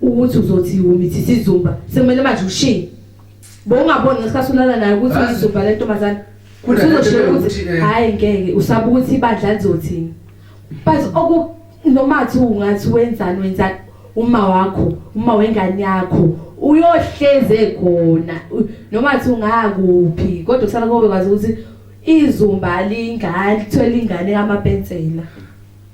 ukuthi uzothi umithi sizumba sekumele manje ushiye bowungaboni ngesikhathi ulala naye ukuthi uyizumba le ntombazane uzoshiya ukuthi eh, hhayi ngeke usaba ukuthi ibandla lizothini but oku noma thi ungathi wenzani wenzani uma wakho uma wengane yakho uyohleze khona noma thi ungakuphi kodwa kusala kobe kwazi ukuthi izumba lingane lithwele ingane kamapensela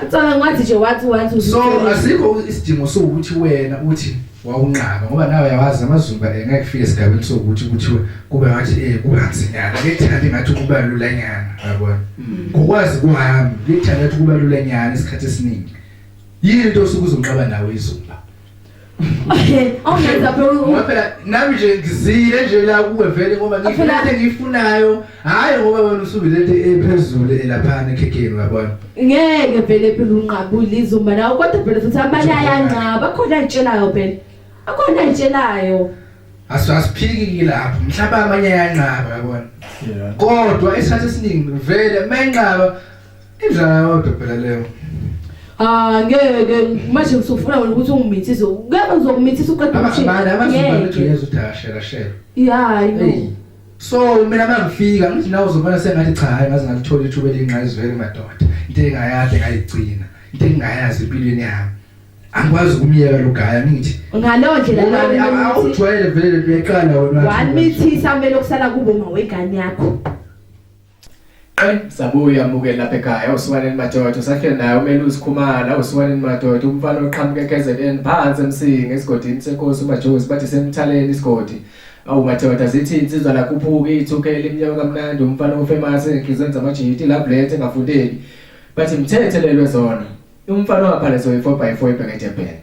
Acabanga wathi nje wathi wathi so asikho isidingo sokuthi wena uthi wawunqaba ngoba nawe yawazi amazulu eh, ngeke kufike esigabeni sokuthi kuthiwe kube ngathi eh kuba nsinyana ngethanda ngathi kuba lula nyana yabona mm. ngokwazi kwami ngethanda ukuthi kuba lula nyana isikhathi esiningi yini into osuke uzonqaba nawe izulu awungenza phela ngoba phela nami nje ngizile nje la kuwe vele ngoba ngifuna into engiyifunayo hhayi ngoba wena usuke lento ephezulu elaphana ekhekheni uyabona ngeke vele phela unqabule izuma nawe kodwa phela futhi abanye ayanqaba akhona ayitshelayo phela akhona ayitshelayo asiphiki kilapho mhlawumbe amanye ayanqaba uyabona kodwa esikhathi esiningi vele uma enqaba Injala yodwa phela leyo. Ah ngeke manje usufuna wena ukuthi ungimithise. Ngeke uzokumithisa uqeda umshini. Abana abazibona ukuthi uyeza uthi ashela shela. Yeah, I know. So mina mangifika ngithi nawe uzobona sengathi cha hayi ngaze ngalithola ithuba elingqayizivele madoda. Into engayade ngayigcina. Into engayazi empilweni yami. angikwazi ukumyeka lo gaya ngithi ngaleyo ndlela awujwayele vele leqala wena wamithisa kumele okusala kubo mawegane yakho Qe sabuya mukeli lapha ekhaya usiwaneni madoda usahleli naye umele uzikhumala usiwaneni madoda umfana oqhamuka eKZN phansi emsingi esigodini senkosi umajozi bathi semthaleni isigodi awu madoda zithi insizwa lakhuphuka ithuke elimnyama kamnandi umfana ofemasi enhlizweni zamajiti lablethe engafundeli bathi mthethelelwe zona umfana waphalezo yi-4 by 4 ebheke edebheni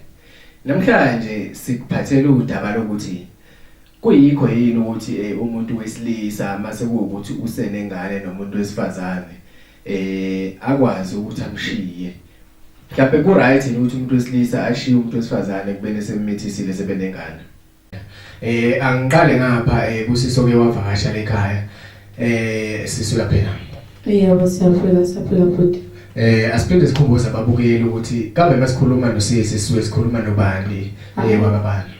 namhlanje sikuphathele udaba lokuthi Kuyikho yini ukuthi eh, umuntu wesilisa mase kuwukuthi usenengane nomuntu wesifazane eh akwazi ukuthi amshiye mhlawumbe ku right yini ukuthi umuntu wesilisa ashiye umuntu wesifazane kubene semithisile sebenengane eh angiqale ngapha eh kusiso ke wavakasha lekhaya eh sisuka phela yebo siyaphila siyaphila futhi eh asiphinde sikhumbuze ababukeli ukuthi kambe masikhuluma nosisi sisuke sikhuluma nobani eh wababani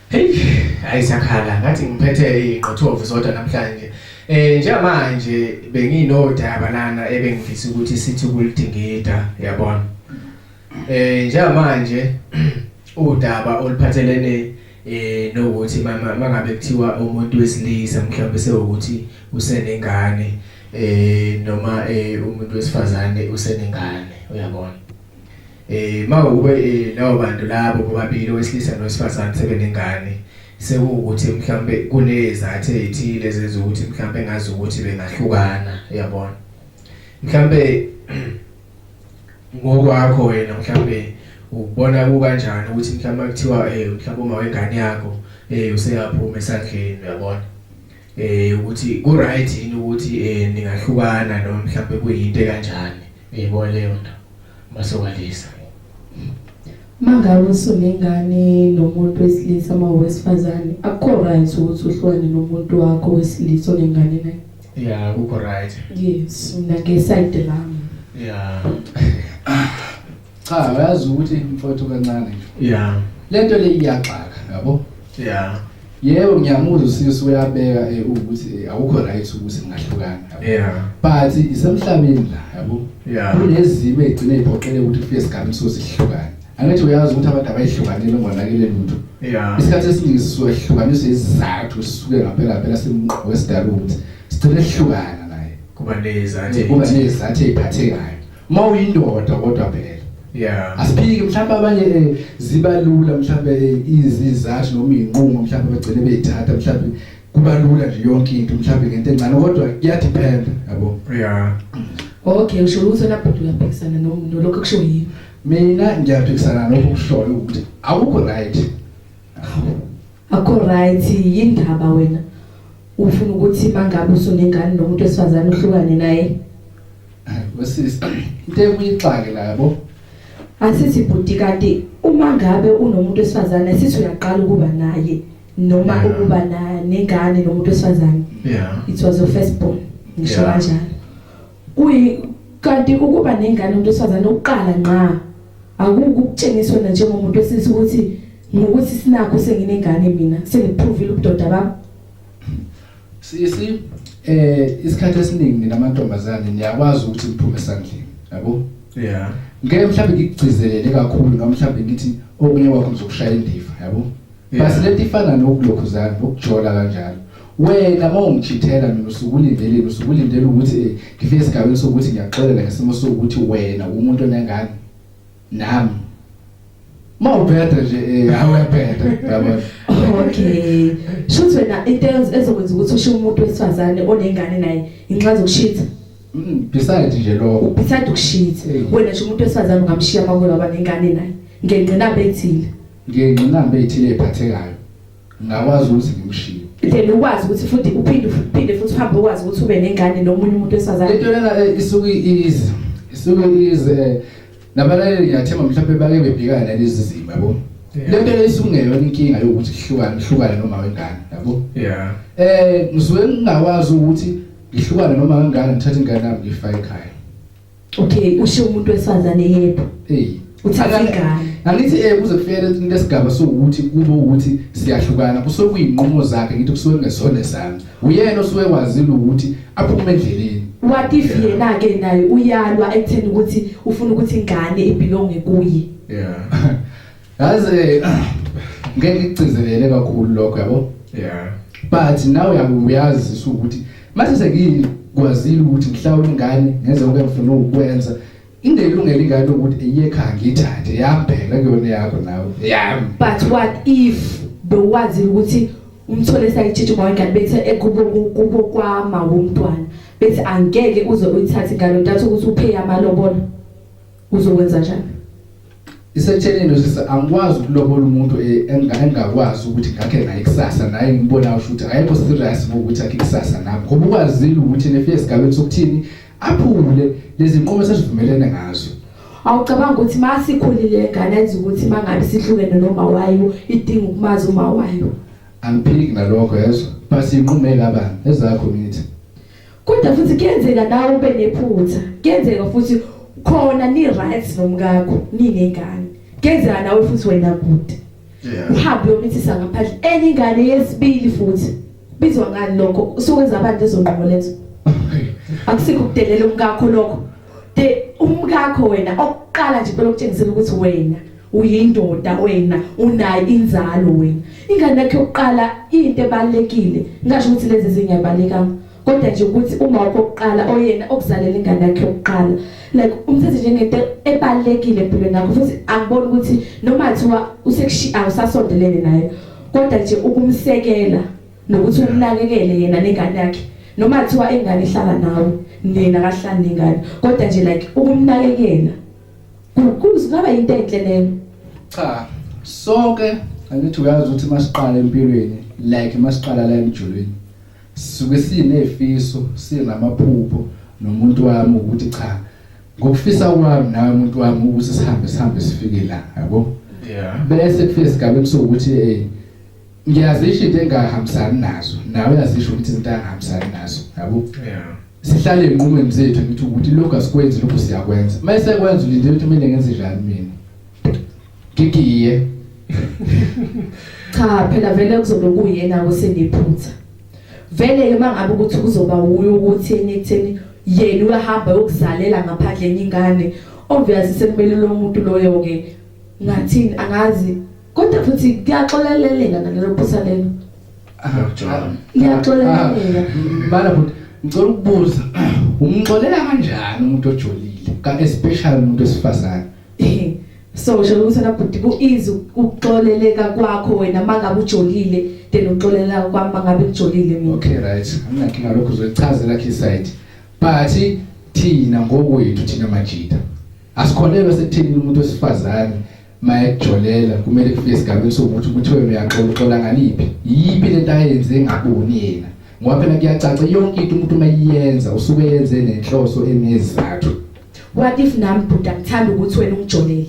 Hey, ayisakhala ngathi ngiphethe ingqothovu zodwa namhlanje. Eh njengamanje benginodaba lana ebengifisa ukuthi sithi kulidingida yabona. Eh njengamanje udaba oluphathelene eh nokuthi mama mangabe kuthiwa umuntu wesilisa mhlawumbe sewukuthi usenengane eh noma eh umuntu wesifazane usenengane uyabona. Eh mawube eh, lawo bantu labo bobabili owesilisa nowesifazane sebenengane sekuwukuthi mhlambe kunezathu ezithile ezenza ukuthi mhlambe ngazi ukuthi bengahlukana uyabona mhlambe ngokwakho wena mhlambe ubona kukanjani ukuthi mhlambe kuthiwa eh mhlambe uma wengane yakho eh useyaphuma esandleni uyabona eh ukuthi ku right yini ukuthi eh ningahlukana noma mhlawumbe kuyinto kanjani yebo leyo nto masokwalisa mangabe usunengane nomuntu wesilisa uma wesifazane akukho right ukuthi uhlukane nomuntu wakho wesilisa onengane naye ya kukho right yes mina ngesayide lami ya cha uyazi ukuthi mfowethu kancane yeah lento le iyaxaka yabo yeah yebo ngiyamuzwa usisi uyabeka eh, ukuthi eh, awukho right ukuthi ningahlukana yeah but isemhlabeni la yabo yeah kunezimo egcine iphoqele ukuthi kufike isigaba sosihlukana angithi uyazi ukuthi abantu abayihlukanile ngonakele lutho yeah isikhathi esiningi sisuke sihlukaniswe izizathu sisuke ngaphela phela simqoqo wesidalo ukuthi sigcine sihlukana naye kuba nezathu kuba nezathu eziphathekayo Uma uyindoda kodwa phela. Yeah. Asiphiki mhlawumbe abanye eh, zibalula mhlawumbe eh, izizathu noma inqumo mhlawumbe bagcine beyithatha mhlawumbe kubalula nje yonke into mhlawumbe ngento encane kodwa kuyadepend yabo. Yeah. Okay, usho ukuthi lapho uyaphikisana nomuntu lokho kusho yini? Mina ngiyaphikisana nokho kushoyo ukuthi awukho right. akho right yindaba wena ufuna ukuthi mangabe usunengane nomuntu esifazane uhlukane naye wesisi into ekuyixake la yabo asithi bhuti kanti uma ngabe unomuntu esifazane sithi uyaqala ukuba naye noma ukuba nengane nomuntu esifazane yeah it was your first born ngisho kanjalo Kuyi kanti ukuba nengane umuntu wesifazane ukuqala ngqa akukutshengiswa na njengomuntu wesilisa ukuthi ngokuthi sinakho senginengane mina sengiphrovile ubudoda bami sisi eh isikhathi esiningi mina amantombazane niyakwazi ukuthi ngiphume sandleni yabo yeah ngeke mhlawumbe ngikugcizelele kakhulu noma mhlawumbe ngithi okunye kwakho ngizokushaya indiva yabo basi lento ifana nokulokhuzana nokujola kanjalo wena uma ungijithela mina usukulindeleni usukulindela ukuthi eh, ngifike esigabeni sokuthi ngiyaxolela ngesimo sokuthi wena umuntu onengane nami uma ubheda nje eh, awebheda yabona okay shuthi wena into ezokwenza ukuthi ushiye umuntu wesifazane onengane naye inxaza ukushitha mm, besides nje lokho besides ukushitha wena nje umuntu wesifazane ungamshiya makuwe baba nengane naye ngenqinamba ethile Ngiyengqinamba ezithile eziphathekayo. Ngingakwazi ukuthi ngimshiye. Then ukwazi ukuthi futhi uphinde uphinde futhi uhambe ukwazi ukuthi ube nengane nomunye umuntu wesazana. Into lena eh, isuke iyizi. Isuke iyizi eh, nabalaleli ngiyathemba mhlawumbe bake bebhekana nalezi zimo yabo. Le nto isungeyona inkinga yokuthi kuhlukane kuhlukane noma wengane yabo. Yeah. Eh ngisuke ngingakwazi ukuthi ngihlukane noma wengane ngithathe ingane yami ngifake ekhaya. Okay, usho umuntu wesifazane yebo. Hey. Uthatha ingane. Angithi eh kuze kufike into esigaba sokuthi kube ukuthi siyahlukana kusokuyinqumo zakhe ngithi kusuke ngesone sami. Uyena osuke wazile ukuthi aphume endleleni. What if yena ke naye uyalwa ekutheni ukuthi ufuna ukuthi ingane ibelonge kuye? Yeah. Yazi ngeke ngigcizelele kakhulu lokho yabo. Yeah. But nawe uyakuyazi ukuthi mase sekini kwazile ukuthi mhlawumbe ingane ngenze okuyafuna ukwenza into elungela ingane ukuthi iyekhaya ngithathe yabheka kuyona yakho nawe. Yeah. But what if bewazile ukuthi umthole sayitshithe uma ingane bethe ekubo eh, kubo kwama womntwana bethi angeke uze uyithathe ngalo ntathu ukuthi uphe amalobolo Uzokwenza njani? Isetshenini usisi angikwazi ukulobola umuntu e, engakwazi ukuthi ngakhe naye kusasa naye ngibona usho ukuthi ayekho serious ngokuthi akhe kusasa nami ngoba ukwazile ukuthi nefike esigabeni sokuthini aphule lezi nqumo sesivumelene ngazo awucabanga ukuthi masikhulile ngane enza ukuthi mangabe sihlukene noma wayo idinga ukumazi uma wayo angiphiki nalokho yezwa basi inqumela abantu ezakho ngithi Kodwa futhi kuyenzeka nawe ube nephutha. Kuyenzeka futhi khona ni right nomkakho ninengane. Kuyenzeka nawe futhi wena kude. Yeah. Uhambe uyomithisa ngaphandle enye ingane yesibili futhi. Bizwa ngani lokho? Usukwenza abantu ezonqomo lezo. Akusikho kudelela umkakho lokho. De umkakho wena okuqala nje lokuthengisela ukuthi wena uyindoda wena unayo inzalo wena ingane yakhe yokuqala into ebalekile ngasho ukuthi lezi zingabalekanga kodwa nje ukuthi uma okokuqala oyena okuzalela ingane yakhe yokuqala like umthethe njengento ebalekile empilweni yakho futhi angiboni ukuthi noma thiwa usekushi awusasondelene naye kodwa nje ukumsekela nokuthi umnakekele yena nengane yakhe noma thiwa ingane ihlala nawe nina kahlani nengane kodwa nje like ukumnakekela Mkhulu singaba into enhle leyo. Cha, sonke angithi uyazi ukuthi masiqala empilweni like masiqala la emjulweni. Sisuke sinefiso, sinamaphupho nomuntu wami ukuthi cha ngokufisa kwami nawe umuntu wami ukuthi sihambe sihambe sifike la, yabo? Yeah. Bese kufika esigabeni sokuthi eh ngiyazisho into engahambisani nazo nawe uyazisho ukuthi izinto angahambisani nazo yabo sihlale enqumweni zethu ngithi ukuthi lokho asikwenzi lokho siyakwenza uma esekwenza ulinde ukuthi mina ngenze njani mina ngigiye cha phela vele kuzobe kuyena osengiphutha vele ke mangabe ukuthi kuzoba wuyo ukuthi enitheni yena uyahamba yokuzalela ngaphandle enyingane obviously sekumele lo muntu loyo ke ngathini angazi Kodwa futhi kuyaxoleleleka nalelo phutha lelo. Akujona. Liyaxoleleleka. Bala futhi ngicela ukubuza umxolela kanjani umuntu ojolile ka especially umuntu wesifazane. Eh, So usho ukuthi na bhuti ku easy ukuxoleleka kwakho wena mangabe ujolile then uxolela kwami mangabe ngijolile mina. Okay right. Anginakinga lokho uzochaza lakhe side. But thina ngokwethu thina majita. Asikholelwa sekuthini umuntu wesifazane maye kujolela kumele kufike esigabeni sokuthi kuthiwe uyaxola uxola ngaliphi yiphi lento ayenze engaboni yena ngoba phela kuyacaca yonke into umuntu uma iyenza usuke yenze nenhloso enezizathu what if nami bhuti angithanda ukuthi wena ungijolele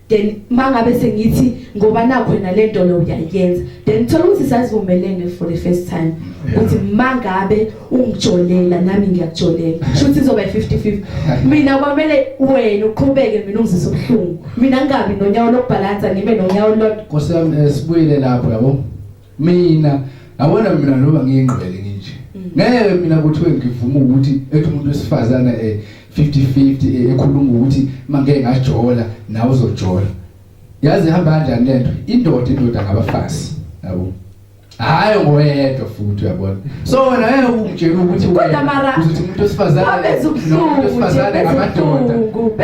then mangabe sengithi ngoba nakho wena lento lo uyayenza then thola ukuthi sazivumelene for the first time ukuthi mangabe ungijolela nami ngiyakujolela shuthi izoba 50-50 mina kwamele wena uqhubeke mina ungizisa ubuhlungu mina ngingabi nonyawo lokubhalansa ngibe nonyawo lodwa Nkosi yami eh, sibuyele lapho yabo mina yabona mina noba ngiyingqwele nginje mm. ngeke mina kuthiwe ngivuma ukuthi ethi umuntu wesifazane eh 50-50 eh, ekhuluma ukuthi mangeke ngajola nawe uzojola yazi ihamba kanjani lento indoda indoda ngabafazi yabo hayi ngoyedwa futhi uyabona so wena ngeke ungitshele ukuthi kodwa mara uzothi umuntu osifazane abenza ubuhlungu osifazane amadoda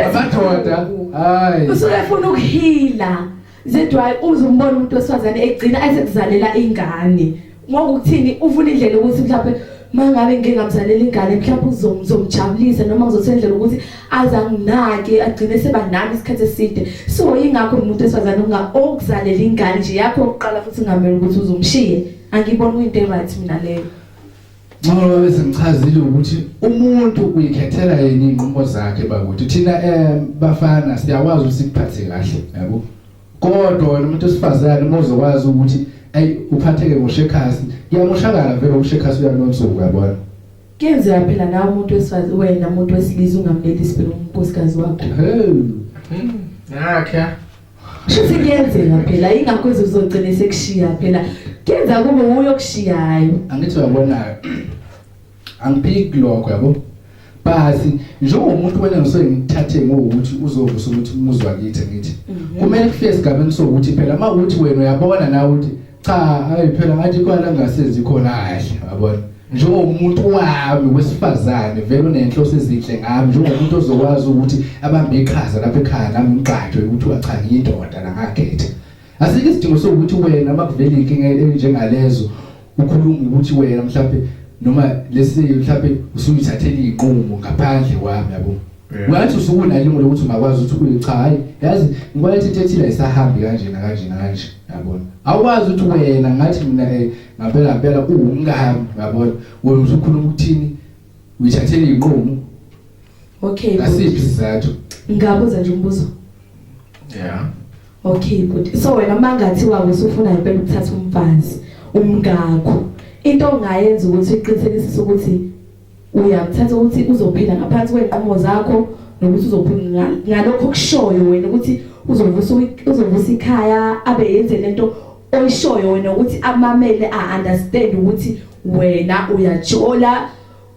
amadoda hayi usuke efuna ukuhila zedwayi uzumbona umuntu osifazane egcina ayisekuzalela ingane ngokuthini ufuna indlela ukuthi mhlawumbe mangabe ngike ngamzalela ingane mhlawumbe uzomjabulisa noma ngizothendlela ukuthi azanginaki agcine seba nami isikhathi eside so ingakho umuntu esifazane unga okuzalela ingane nje yakho oqala futhi ngamela ukuthi uzomshiye angibona kuyinto eright mina leyo Ngoba bese ngichazile ukuthi umuntu uyikhethela yini inqumo zakhe bakuthi thina eh bafana siyakwazi usiphathe kahle yabo kodwa wena umuntu osifazane mozokwazi ukuthi ay uphatheke ngoshekhasi kuyamoshakala vele ushekhasi uyanonsuku yabona Kuyenzeka phela nawe umuntu wesifazane wena umuntu wesilisa ungamleli isibili unkosikazi wakho. Ngakhe. Shuthi kuyenzeka phela ingakho uzogcina sekushiya phela. Kuyenzeka kube uyokushiyayo. Angithi uyabona. Angiphiki lokho yabo. Basi njengomuntu wena ngisuke ngithathe ngokuthi uzovusa ukuthi umuzwa kithi ngithi. Mhm. Kumele kufike esigabeni sokuthi phela uma uthi wena uyabona nawe ukuthi cha hayi phela ngathi kwana ngasenzi khona kahle yabona njengomuntu wami wesifazane vele unenhloso ezinhle ngami njengomuntu ozokwazi ukuthi abambe iqhaza lapha ekhaya nami ngigqajwe ukuthi wacha ngiyindoda nangakhetha asikho isidingo sokuthi wena makuvela inkinga enjengalezo ukhuluma ukuthi wena mhlawumbe noma lesi mhlawumbe usuyithathele iqomo ngaphandle kwami yabo Ngathi usukuna ilungu lokuthi ungakwazi ukuthi ukhule cha hayi yazi ngibona into ethile isahambi kanje na kanje na kanje yabona awukwazi ukuthi wena ngathi mina eh, ngampela ngampela uwumngani yabona wena usukhuluma ukuthini uyithathele inqumo okay asiphi sizathu ngabuza nje umbuzo yeah okay good so wena mangathi wawo usufuna impela ukuthatha umfazi umngakho into ongayenza ukuthi uqinisekisise ukuthi uyakuthatha ukuthi uzophila ngaphansi kwenqumo zakho nokuthi uzophila ngalokho kushoyo wena ukuthi uzovusa uzovusa ikhaya abe yenze lento oyishoyo wena ukuthi amamele a understand ukuthi wena uyajola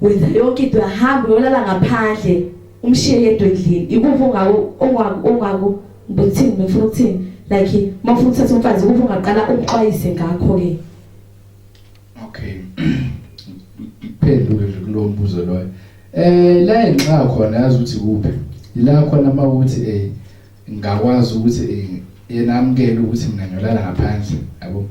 wenza yonke into yahamba uyolala ngaphandle umshiye yedwa endlini ikuphi ongaku ongaku ongaku ngithini ngifuna ukuthini like mawufuna ukuthatha umfazi kuphi ungaqala umxwayise ngakho ke Okay. Ngiphendule nje kulowo mbuzo loyo. Eh la enxa khona yazi ukuthi kuphi. Ila khona uma ukuthi eh ngakwazi ukuthi eh yena amkele ukuthi mina ngiyolala ngaphandle yabo.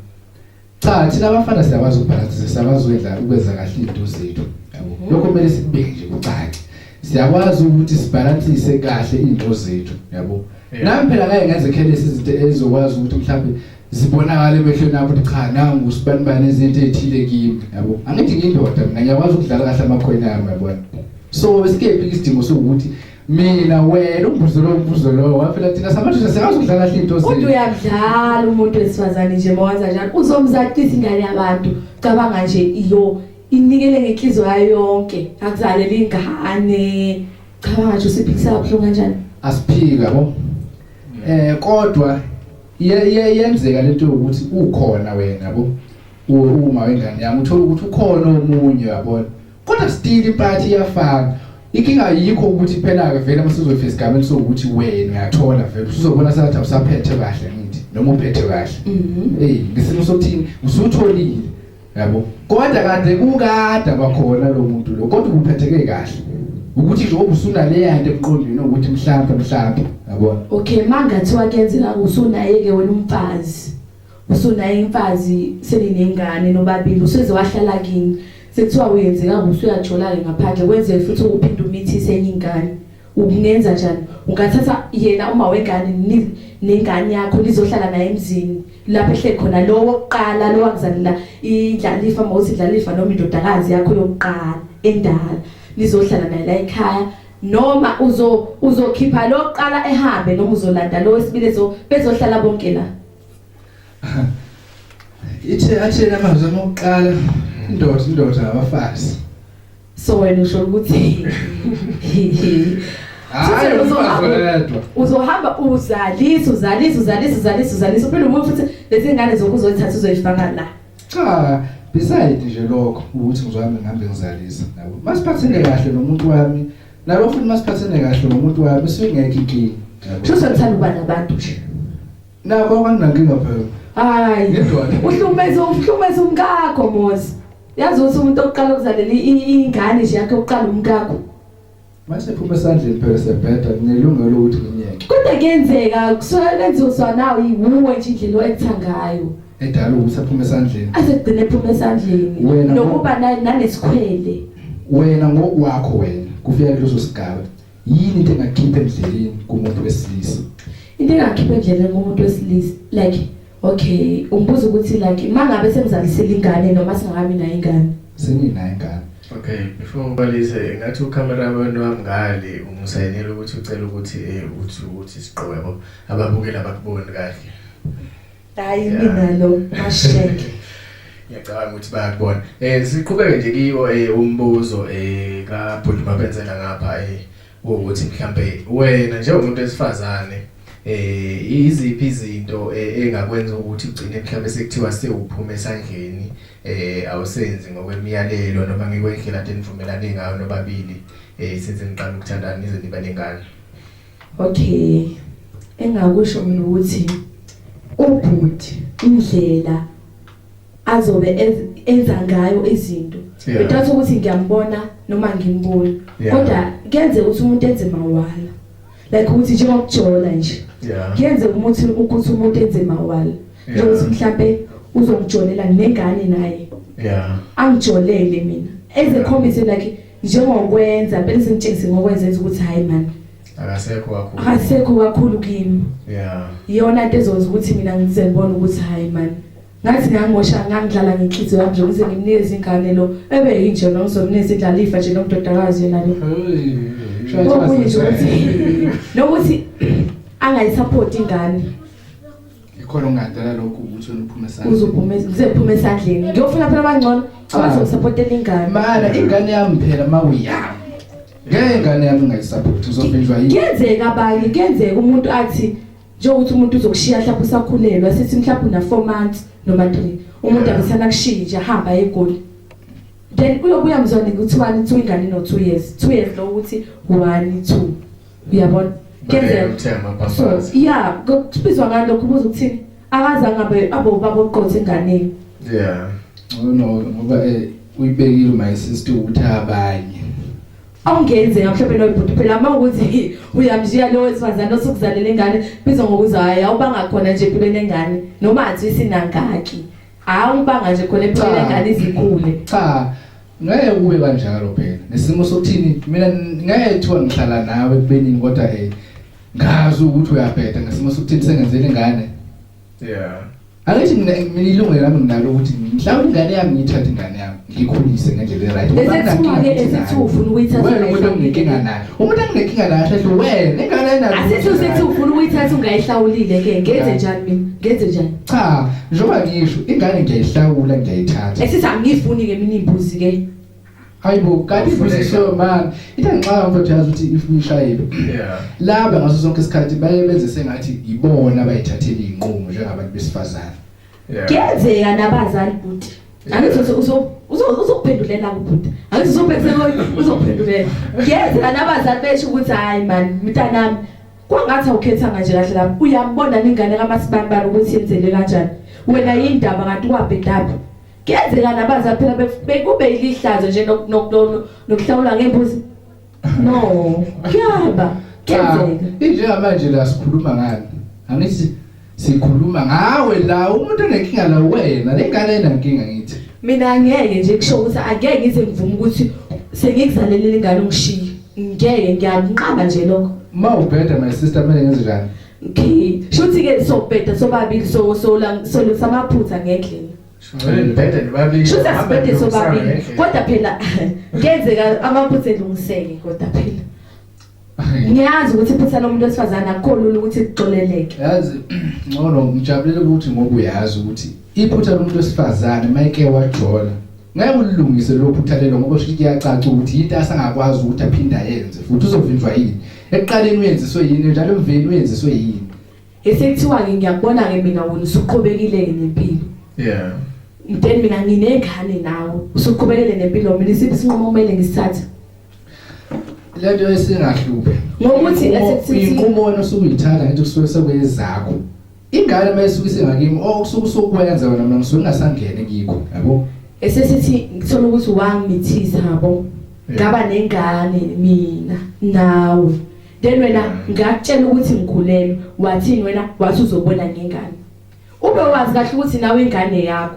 Cha thina abafana siyakwazi ukubhalansa siyakwazi ukwenza ukwenza kahle izinto zethu yabo. Mhm. Lokho kumele sikubeke nje kucace. Siyakwazi ukuthi sibhalansise kahle izinto zethu yabo. Nami phela ngeke ngenze khelesi izinto ezokwazi ukuthi mhlawumbe zibonakala emehlweni akho ukuthi cha nangu usibanibani izinto ezithile kimi yabo angithi ngindoda mina ngiyakwazi ukudlala kahle amakhwena yami yabona so esikepi isidingo sokuthi mina wena umbuzo lo umbuzo lo wafela thina samadoda sikazi ukudlala kahle into zethu kodwa uyadlala umuntu wesifazane nje mawaza njalo uzomzaqisa ingane yabantu cabanga nje iyo inikele ngenhliziyo yayo yonke akuzalela ingane cabanga nje usiphikisa kabuhlungu kanjani asiphika bo eh kodwa yenzeka lento yokuthi ukhona wena yabo uma wengane yami uthola ukuthi ukhona omunye yabona kodwa still iparty iyafana inkinga yikho ukuthi phela-ke vele masizofika esigabeni sokuthi wena uyathola vele usuzobona sengathi awusaphethe kahle ngithi noma uphethe kahle mhm. eyi ngesimo sokuthini usutholile yabo kodwa kade kukade abakhona lo muntu lo kodwa uphetheke kahle ukuthi nje obusunaleya nto emqondweni ukuthi mhlawumbe mhlawumbe yabona okay mangathiwa kuyenzeka usunaye ke wena umfazi usunaye imfazi seninengane nobabili useze wahlala kini sekuthiwa uyenzeka usuyajola ke ngaphandle kwenze futhi uphinde umithise enye ingane Ukungenza njani? Ungathatha yena uma wengane ni- nengane yakho nizohlala naye emzini lapho ehleli khona lowo wokuqala lowo akuzalela indlalifa uma uthi indlalifa noma indodakazi yakho yokuqala endala nizohlala naye la ekhaya noma uzo uzokhipha lo wokuqala ehambe noma uzolanda lo wesibili ezo- bezohlala bonke la Ithe athena amazwi amokuqala indoda indoda abafazi. so wena usho ukuthi Hayi uzohamba uzohamba uzalisa uzalisa uzalisa uzalisa uzalisa uphinde umuntu futhi lezi ngane zokuzozithatha uzoyifaka la cha beside nje lokho ukuthi ngizwami ngihambe ngizalisa nabo masiphathene kahle nomuntu wami nalo futhi masiphathene kahle nomuntu wami singekho inkinga sho sekuthanda uba nabantu nje nabo abanginankinga phela hayi uhlukumeza uhlukumeza umkakho mozi Yazi ukuthi umuntu oqala ukuzalela ingane nje yakhe uqala umkakho. Mase phuma esandleni phela sebheda kunelungelo ukuthi nginyeke. Kodwa kuyenzeka kusuka benzoswa nawo yiwuwe nje indlela owenza ngayo. Edala ukuthi aphume esandleni. Asegcine ephume esandleni. Nokuba nalesikhwele. Wena ngokwakho wena kufika kuleso sigaba. yini into engakhipha endleleni kumuntu wesilisa into engakhipha endleleni kumuntu wesilisa like okay umbuzo ukuthi like mangabe semzalisile ingane noma singakabi nayo ingane senginayo ingane okay before ubalise ngathi ucamera wenu wamngale umsayinela ukuthi ucela ukuthi eh uthi uthi siqobo ababukeli abakuboni kahle Hayi mina lo masheke. Ngiyacabanga ukuthi bayakubona. Eh siqhubeke nje kiwo eh umbuzo eh ka Bhuti Mabenzela ngapha eh ukuthi mhlambe wena njengomuntu wesifazane eh iziphi izinto eh, engakwenza ukuthi ugcine mhlambe sekuthiwa sewuphuma esandleni eh awusenzi ngokwemiyalelo noma ngikwendlela enivumelane ngayo nobabili eh since niqala ukuthandana nize nibe nengane. Okay. Engakusho mina ukuthi ubhuti indlela azobe enza ngayo izinto. Bedathi ukuthi ngiyambona noma ngimbona. Kodwa kenze ukuthi umuntu enze mawala. Like ukuthi njengokujola nje. Kenze umuntu ukuthi umuntu enze mawala. Njengokuthi mhlambe uzokujolela nengane naye. Yeah. Angijolele mina. Ezekhombise like njengokwenza phela sengitshengise ngokwenza enza ukuthi hayi mani akasekho kakhulu akasekho kakhulu kimi yeah iyona into ezokwenza ukuthi mina ngize ngibone ukuthi hayi mani ngathi ngangosha ngangidlala ngenhliziyo yami nje ukuze ngimnikeze ingane lo ebe yinje lo ngizomnikeza indlala ifa nje nomdodakazi yena lo okunye nje ukuthi nokuthi angayisupport ingane ikhona ongadala lokho ukuthi uniphume esandleni uzophume ngizephume esandleni ngiyofuna phela abangcono ah. abazosupportela ingane mana ingane yami phela mawuyami ngeke ingane yami ngayisupport uzophinjwa yini kuyenzeka abanye kuyenzeka umuntu athi njengokuthi umuntu uzokushiya mhlawumbe usakhulelwa sithi mhlawumbe una 4 months noma 3 umuntu akasana kushintsha hamba egoli then uyobuya mzwane kuthiwani kuthiwa ingane no 2 years 2 years lo ukuthi 1 2 uyabona kenzeka so yeah kubizwa ngani lokho ubuza ukuthini akaze angabe abo baboqotha enganeni yeah ngoba ngoba eh uyibekile my sister ukuthi abanye awungenzeka mhlawumbe loyo bhuti phela uma ukuthi uyamshiya lowo wesifazane osukuzalela ingane bizwa ngokuza hayi awubanga khona nje empilweni engane noma athi isinangaki hayi ubanga nje khona empilweni engane izikhule cha ngeke kube kanjalo phela nesimo sokuthini mina ngeke kuthiwa ngihlala nawe ekubeni kodwa eh ngazi ukuthi uyabheda ngesimo sokuthini sengenzele ingane yeah angithi mina mina ilungelo lami nginalo ukuthi mhlawumbe ingane yami ngiyithathe ingane yami ngikhulise ngendlela e-right bese singake esithufu ukuyithatha wena umuntu onginkinga nayo umuntu anginenkinga naye kahle kahle wena nengane ayinayo asithi usethi ufuna ukuyithatha ungayihlawulile ke ngenze njani mina ngenze njani cha njengoba ngisho ingane ngiyayihlawula ngiyayithatha esithi angiyifuni ke mina imbuzi ke hayibo kanti imbuzi so man into engixaka mfowethu yazi ukuthi if uyishayile yeah laba ngaso sonke isikhathi baye benze sengathi yibona abayithathele inqumo njengabantu besifazane Yeah. Kuyenzeka nabazali bhuti. Angithi uzo- uzo- uzo- uzokuphendulela kubhuti. Angithi uzobhekise ngoyi uzokuphendulela. Kuyenzeka nabazali besho ukuthi hayi man mntanami kwangathi awukhethanga nje kahle lapho. Uyambona ningane kamasibambara ukuthi yenzele kanjani. Wena yindaba kanti wabhedaphi. Kuyenzeka nabazali phela bef- bekube ilihlazo nje nok- nok- nok- nokuhlawula ngembuzi. No. Kuyaba. Kenzeka. Injengamanje la sikhuluma ngani? Angithi sikhuluma ngawe la umuntu onenkinga la wena lengane enankinga ngithi. Mina ngeke nje kusho ukuthi angeke ngize ngivume ukuthi sengikuzalelele ingane ungishiye. Ngeke ngiyakunqaba nje lokho. Uma ubheda my sister kumele ngenze njani? Okay. Shuthi ke sobheda sobabili so so la solisa amaphutha ngendlela. Ngibhede nibabili. Shuthi asibhede sobabili. Kodwa phela ngenzeka amaphutha elungiseke kodwa phela. Ngiyazi ukuthi iphutha lomuntu wesifazane akukho lula ukuthi kuxoleleke. Yazi ngcono ngijabulele ukuthi ngoku uyazi ukuthi iphutha lomuntu wesifazane mayike wajola. Ngeke ulilungise lo phutha lelo ngoba shuthi kuyacaca ukuthi into asangakwazi ukuthi aphinde ayenze futhi uzovinjwa yini. Ekuqaleni uyenziswe yini njalo emveni uyenziswe yini. esekuthiwa-ke ngiyakubona-ke mina wena usuqhubekile-ke nempilo yeah then mina nginengane nawe usuqhubekele nempilo mina isiphi isinqumo kumele ngisithathe lento esingahluphe ngokuthi inqumo wena osuke uyithatha ngithi kusuke sekuyezakho ingane uma isuke isengakimi o oh, kusuke usukwenza wena mina ngisuke ngingasangene kikho yabo esesithi ngithola ukuthi wangimithisa yabo ngaba nengane mina nawe then wena ngakutshela ukuthi ngikhulelwe wathini wena wathi uzobona ngengane ube wazi kahle ukuthi nawe ingane yakho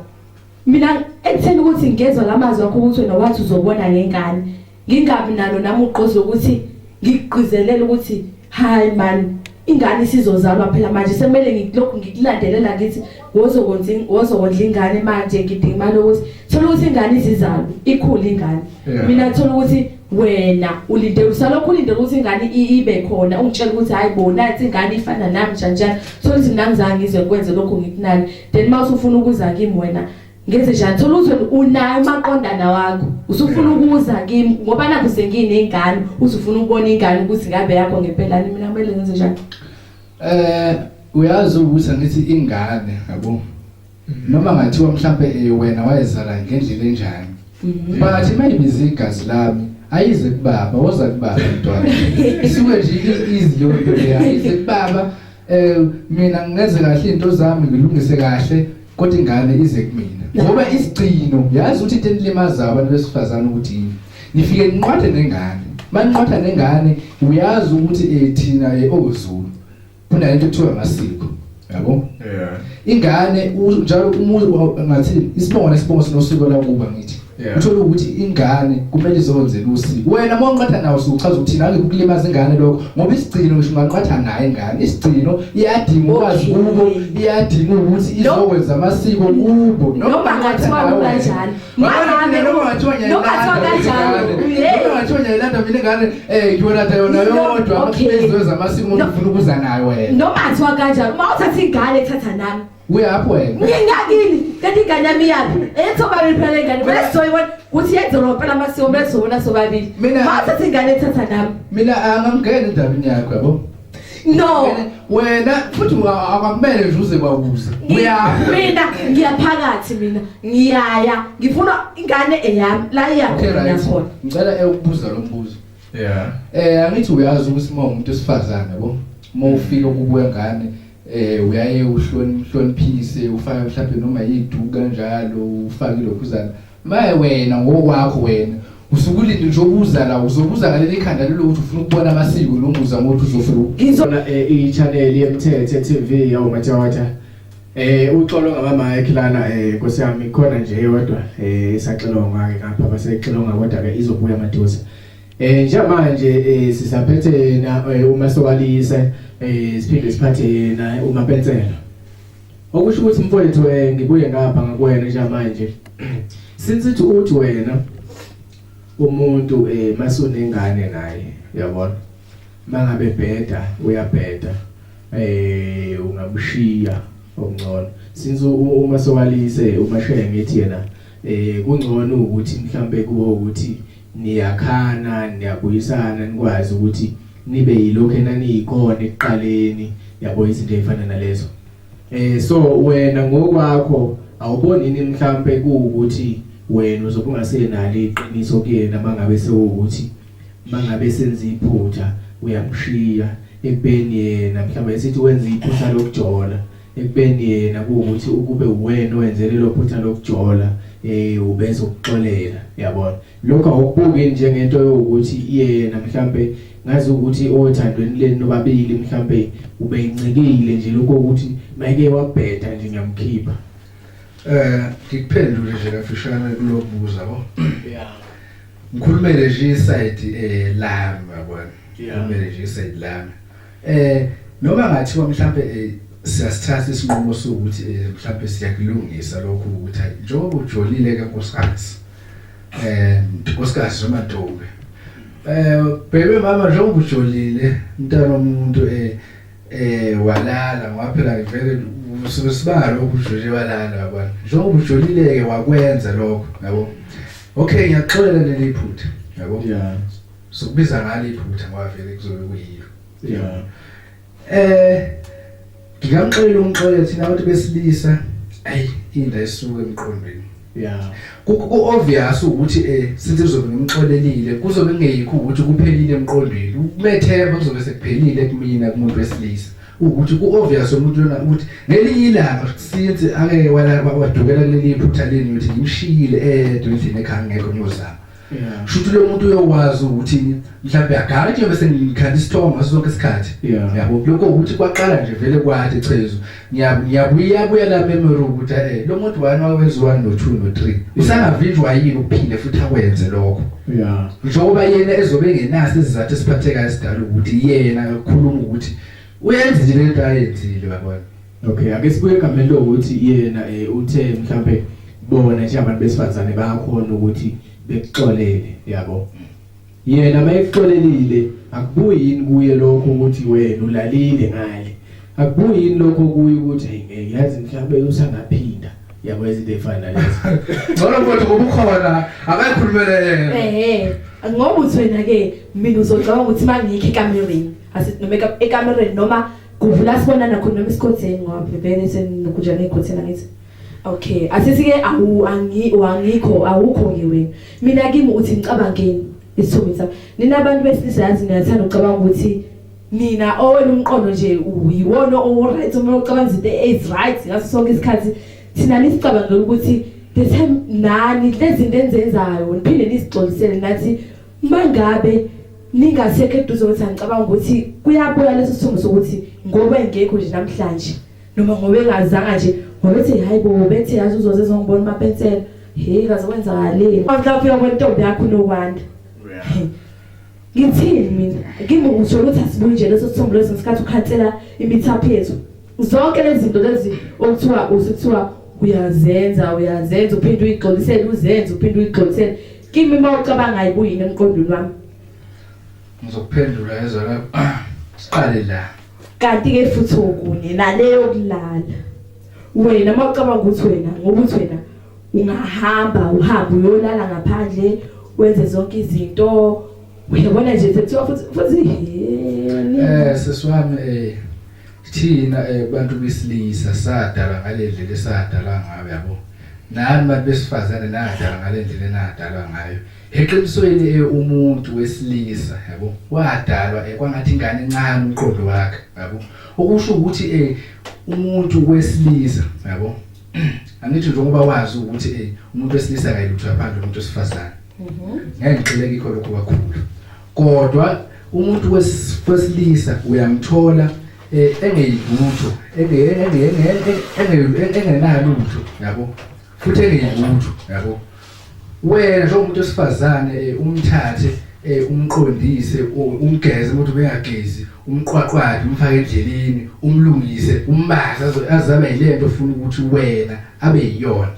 mina ekutheni ukuthi ngezwa lamazwi akho ukuthi wena wathi uzobona ngengane ngingabi nalo nami ugqozi ukuthi ngigqizelele ukuthi hayi man ingane isizozalwa phela manje semele ngilokhu ngikulandelela ngithi wozokwenza wozokondla ingane manje ngidinga imali ukuthi thola ukuthi ingane izizalwa ikhule ingane mina thola ukuthi wena ulinde usalokhu ulinde ukuthi ingane ibe khona ungitshela ukuthi hayi bona athi ingane ifana nami njani so ukuthi mina ngizange ngize kwenze lokho ngikunani then uma usufuna ukuza kimi wena ngenze njani thola ukuthi unayo umaqondana wakho usufuna ukuza kimi ngoba nakho senginey'ngane usufuna ukubona ingane ukuthi ngabe yakho ngempelani mina kumele ngenze njani um uyazi ukuthi angithi ingane yabo noma ngathiwa mhlampe eh, wena wayezala ngendlela enjani mhm. but mayibiza igazi lami ayize kubaba woza kubaba mntwana isuke nje i-easy leyo nto leyo ayize kubaba um mina ngingenze kahle iy'nto zami ngilungise kahle kodwa ingane ize kumina ngoba isigcino yazi ukuthi into enilimazayo abantu besifazane ukuthi yini nifike ninqwathe nengane maninqwatha nengane uyazi ukuthi um thina um owezulu kuna into kuthiwa ngasiko yabo yeah ingane njalo umuntu ngathi isibongo nesibongo sinosiko lakuba ngithi uthola ukuthi ingane kumele izonze lusiko wena uma unqatha nawo usuchaza ukuthi nange kukulimaza ingane lokho ngoba isigcino ngisho unganqatha naye ingane isigcino iyadinga ukwazi kubo iyadinga ukuthi izokwenza amasiko kubo noma ngathiwa kunjalo Mangane noma ngathiwa ngiyayilanda noma ngathiwa ngiyayilanda mina ngane eh ngiyolanda yona yodwa amazwe zamasiko umuntu ufuna ukuza nayo wena noma ngathiwa kanjani uma uthatha ingane thatha nami uyaphi wena ngingakini kanti ingane yami iyaphi ethoba liphela ingane bese soyibona ukuthi yenzela phela amasiko bese wona sobabili mina uthatha ingane thatha nami mina angangena endabeni yakho yabo No. Wena futhi akwamele nje uze kwawuza. Uya. Mina ngiyaphakathi mina. Ngiyaya. Ngifuna ingane eyami la iyakhona khona. Ngicela ekubuza lo mbuzo. Yeah. Eh angithi uyazi ukuthi uma umuntu esifazane yabo. Uma ufika kubuya ngane eh uyaye uhloniphise ufake mhlawumbe noma yiduka kanjalo ufake lokhuzana Maye wena ngokwakho wena usukulinde nje ubuza la uzobuza ngale likhanda lelo ukuthi ufuna ukubona amasiko noma uza ngothi uzofika ngizona eh, i channel yemthethe TV yawo matawata eh uxolo ngama mic lana eh nkosi yami khona nje yodwa eh isaxilonga ke ngapha basexilonga kodwa ke izobuya maduze eh njamanje eh sisaphethe na eh, uma sokalise eh siphinde siphathe na uma pensela Okusho ukuthi mfowethu eh ngibuye ngapha ngakuwena njengamanje. Since it uthi wena umuntu eh masunengane naye uyabona. Mangabe bheda uyabheda eh ungakushiya okungcono. Since uma sewalise umashaya ngithi yena eh kungcono ukuthi mhlambe kuwo ukuthi niyakhana niyabuyisana nikwazi ukuthi nibe yilokho enaniyikhona ekuqaleni yabo izinto ezifana nalezo eh so wena ngokwakho awuboni ini mhlambe kuukuthi wena uzobe ungasenalo iqiniso kuyena mangabe sewukuthi mangabe senza iphutha uyamshiya ekubeni yena mhlawumbe esithi wenza iphutha lokujola ekubeni yena kuwukuthi ukube uwena owenze lelo phutha lokujola eh ubese ukuxolela yabona lokho awukubuki njengento yokuthi yena mhlambe ngazi ukuthi othandweni leni nobabili mhlambe ubeyincikile nje lokho ukuthi mayike wabheda nje ngiyamkhipha eh ngikuphendule nje kafishane kulobuza bo yeah ngikhulumele nje iside eh lami yabona ngikhulumele nje iside lami Eh noma ngathiwa mhlambe eh, siyasithatha isinqumo sokuthi eh, mhlambe siyakulungisa lokhu ukuthi hayi njengoba ujolile ke nkosikazi. Eh nkosikazi noma ntombi. Eh bebe mama njengoba ujolile mntana omuntu eh eh walala ngoba phela ngivele usuke sibalo ukujolile walala yabona. Njengoba ujolile ke wakwenza lokho yabo. Okay ngiyaxolela leli phutha yabo. Yeah. Sokubiza ngalo iphutha ngoba vele kuzobe kuyilo. Yeah. Eh ngingamxolela umxolela thina abantu besilisa ayi inda esuke emqondweni. Yeah. Ku obvious ukuthi eh since kuzobe ngimxolelile kuzobe kungeyikho ukuthi kuphelile emqondweni. Ukumethemba kuzobe sekuphelile kumina kumuntu wesilisa. ukuthi ku-obvious umuntu lona ukuthi ngelinye ilanga since ake wadukela kuleli phutha leni ukuthi ngimshiyile edwa endlini ekhaya ngekho ngiyozama yeah. shuthi lo muntu uyokwazi ukuthi mhlawumbe agala nje bese ngikhanda isithongo ngaso sonke isikhathi yeah. yabo lokho ukuthi kwaqala nje vele kwathi chezo ngiyabuya buya la memory ukuthi eh lo muntu wani wawenziwa no 2 no 3 usangavinjwa yini ukuphinde futhi akwenze lokho yeah njengoba yena ezobe ngenasi izizathu esiphathekayo esidala ukuthi yena ukhuluma ukuthi uyenze nje lento ayenzile babona Okay, ake sibuye egameni lokuthi yena eh uthe mhlambe bona nje abantu besifazane bayakhona ukuthi bekuxolele, yabo. Yena mayekuxolelile akubuyi yini kuye lokho ukuthi wena ulalile ngale. Akubuyi yini lokho kuye ukuthi hey ngeke yazi mhlambe usangaphinda. Yabo izinto efana lezi. Ngcono mfowethu ngoba ukhona akayikhulumele yena. Ehhe, ngoba uthi wena ke mina uzocabanga ukuthi mangikho ekamereni, asithi noma eka- ekamereni noma Kuvula sibonana khona noma isikhotheni ngoba bhebhene senokujana ikhotheni angithi. Okay, asisike awu angi wangikho awukho ke wena. Mina kimi uthi ngicabangeni isithombe sami. Nina abantu besilisa yazi niyathanda ukucabanga ukuthi nina owena umqondo nje uyiwona owuright uma ucabanga izinto is right ngaso sonke isikhathi thina nisicabangela ukuthi the time nani lezinto enzenzayo niphinde nisixolisele nathi Mangabe ningasekho eduze ukuthi angicabanga ukuthi kuyabuya leso sithombo sokuthi ngoba engekho nje namhlanje noma ngoba engazanga nje ngobethi hayi bo bethi yazi uzoze ezongibona uma pensela hey kaze kwenzakalile mhla ufika kwentombi yakho unokwanda ngithini mina kimi usho ukuthi asibuyi nje leso sithombo leso ngesikhathi ukhansela imithapho yethu zonke lezi zinto lezi okuthiwa usithiwa uyazenza uyazenza uphinde uyigxolisele uzenze uphinde uyigxolisele Kimi uma ucabangayo kuyini emqondweni wami? Ngizokuphendula ezwa la. Siqale la. Kanti ke futhi okunye naleyo kulala. Wena uma ucabanga ukuthi wena ngokuthi wena ungahamba uhambe uyolala ngaphandle wenze zonke izinto uyabona nje sekuthiwa futhi futhi eh sesiwami eh Thina eh, bantu besilisa sadalwa ngale ndlela esadalwa ngayo yabo. Nani bantu besifazane nadalwa ngale ndlela enadalwa ngayo. Eqinisweni eh, umuntu wesilisa yabo wadalwa eh, kwangathi ingane encane umqondo wakhe yabo. Okusho ukuthi eh, umuntu wesilisa yabo. Angithi njengoba wazi ukuthi eh, umuntu wesilisa akayilutho yaphandle umuntu wesifazane. Mhm. Ngeke ngixeleke ikho lokho kakhulu. Kodwa umuntu wesilisa uyamthola eh, engeyilutho, engenalutho, yabo. Futhi engeyilutho, yabo. Wena njengomuntu wesifazane eh, umthathe eh, umqondise umgeze ukuthi bengagezi umqwaqwade umfake endleleni umlungise umbaze azabe yilento ofuna ukuthi wena abe yiyona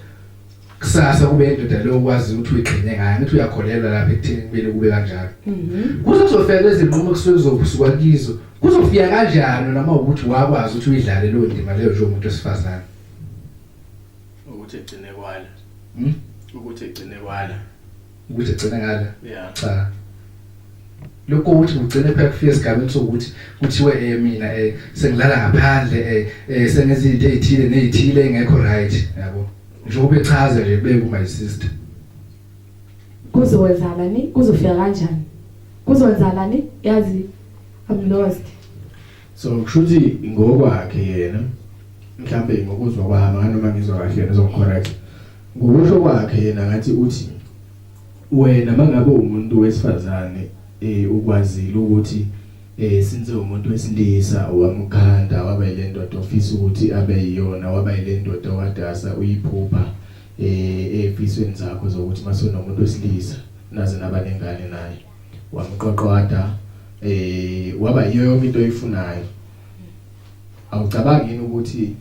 kusasa kube indoda leyo ukwazi ukuthi uyigcine ngayo ngithi uyakholelwa lapha ekutheni kumele kube kanjalo mhm. kuze kuzofika lezinqumo kusuke kuzokusuka kizo kuzofika kanjani noma ukuthi wakwazi ukuthi uyidlale leyo ndima leyo njengomuntu wesifazane ukuthi egcine kwala hmm? ukuthi egcine kwala ukuthi egcine ngala yeah cha lokho ukuthi ngigcine phela kufike esigabeni sokuthi kuthiwe eh mina eh sengilala ngaphandle eh, eh sengenza izinto ezithile nezithile engekho right yabo ngisho kube chaze nje beku my sister kuzowenzalani kuzofika kanjani kuzowenzalani yazi i'm lost so kushuthi ngokwakhe yena mhlambe ngokuzwa kwami nganoma ngizwa kahle yena uzongicorrect ngokusho kwakhe yena ngathi uthi wena mangabe umuntu wesifazane eh ukwazile ukuthi eh since umuntu wesilisa wamkhanda waba ile ndoda ofisa ukuthi abe yiyona waba ile ndoda wadasa uyiphupha eh efisweni zakho zokuthi masonomuntu wesilisa naze nabanengane naye wamqoqoda eh waba yiyo yonke into oyifunayo awucabangi yini ukuthi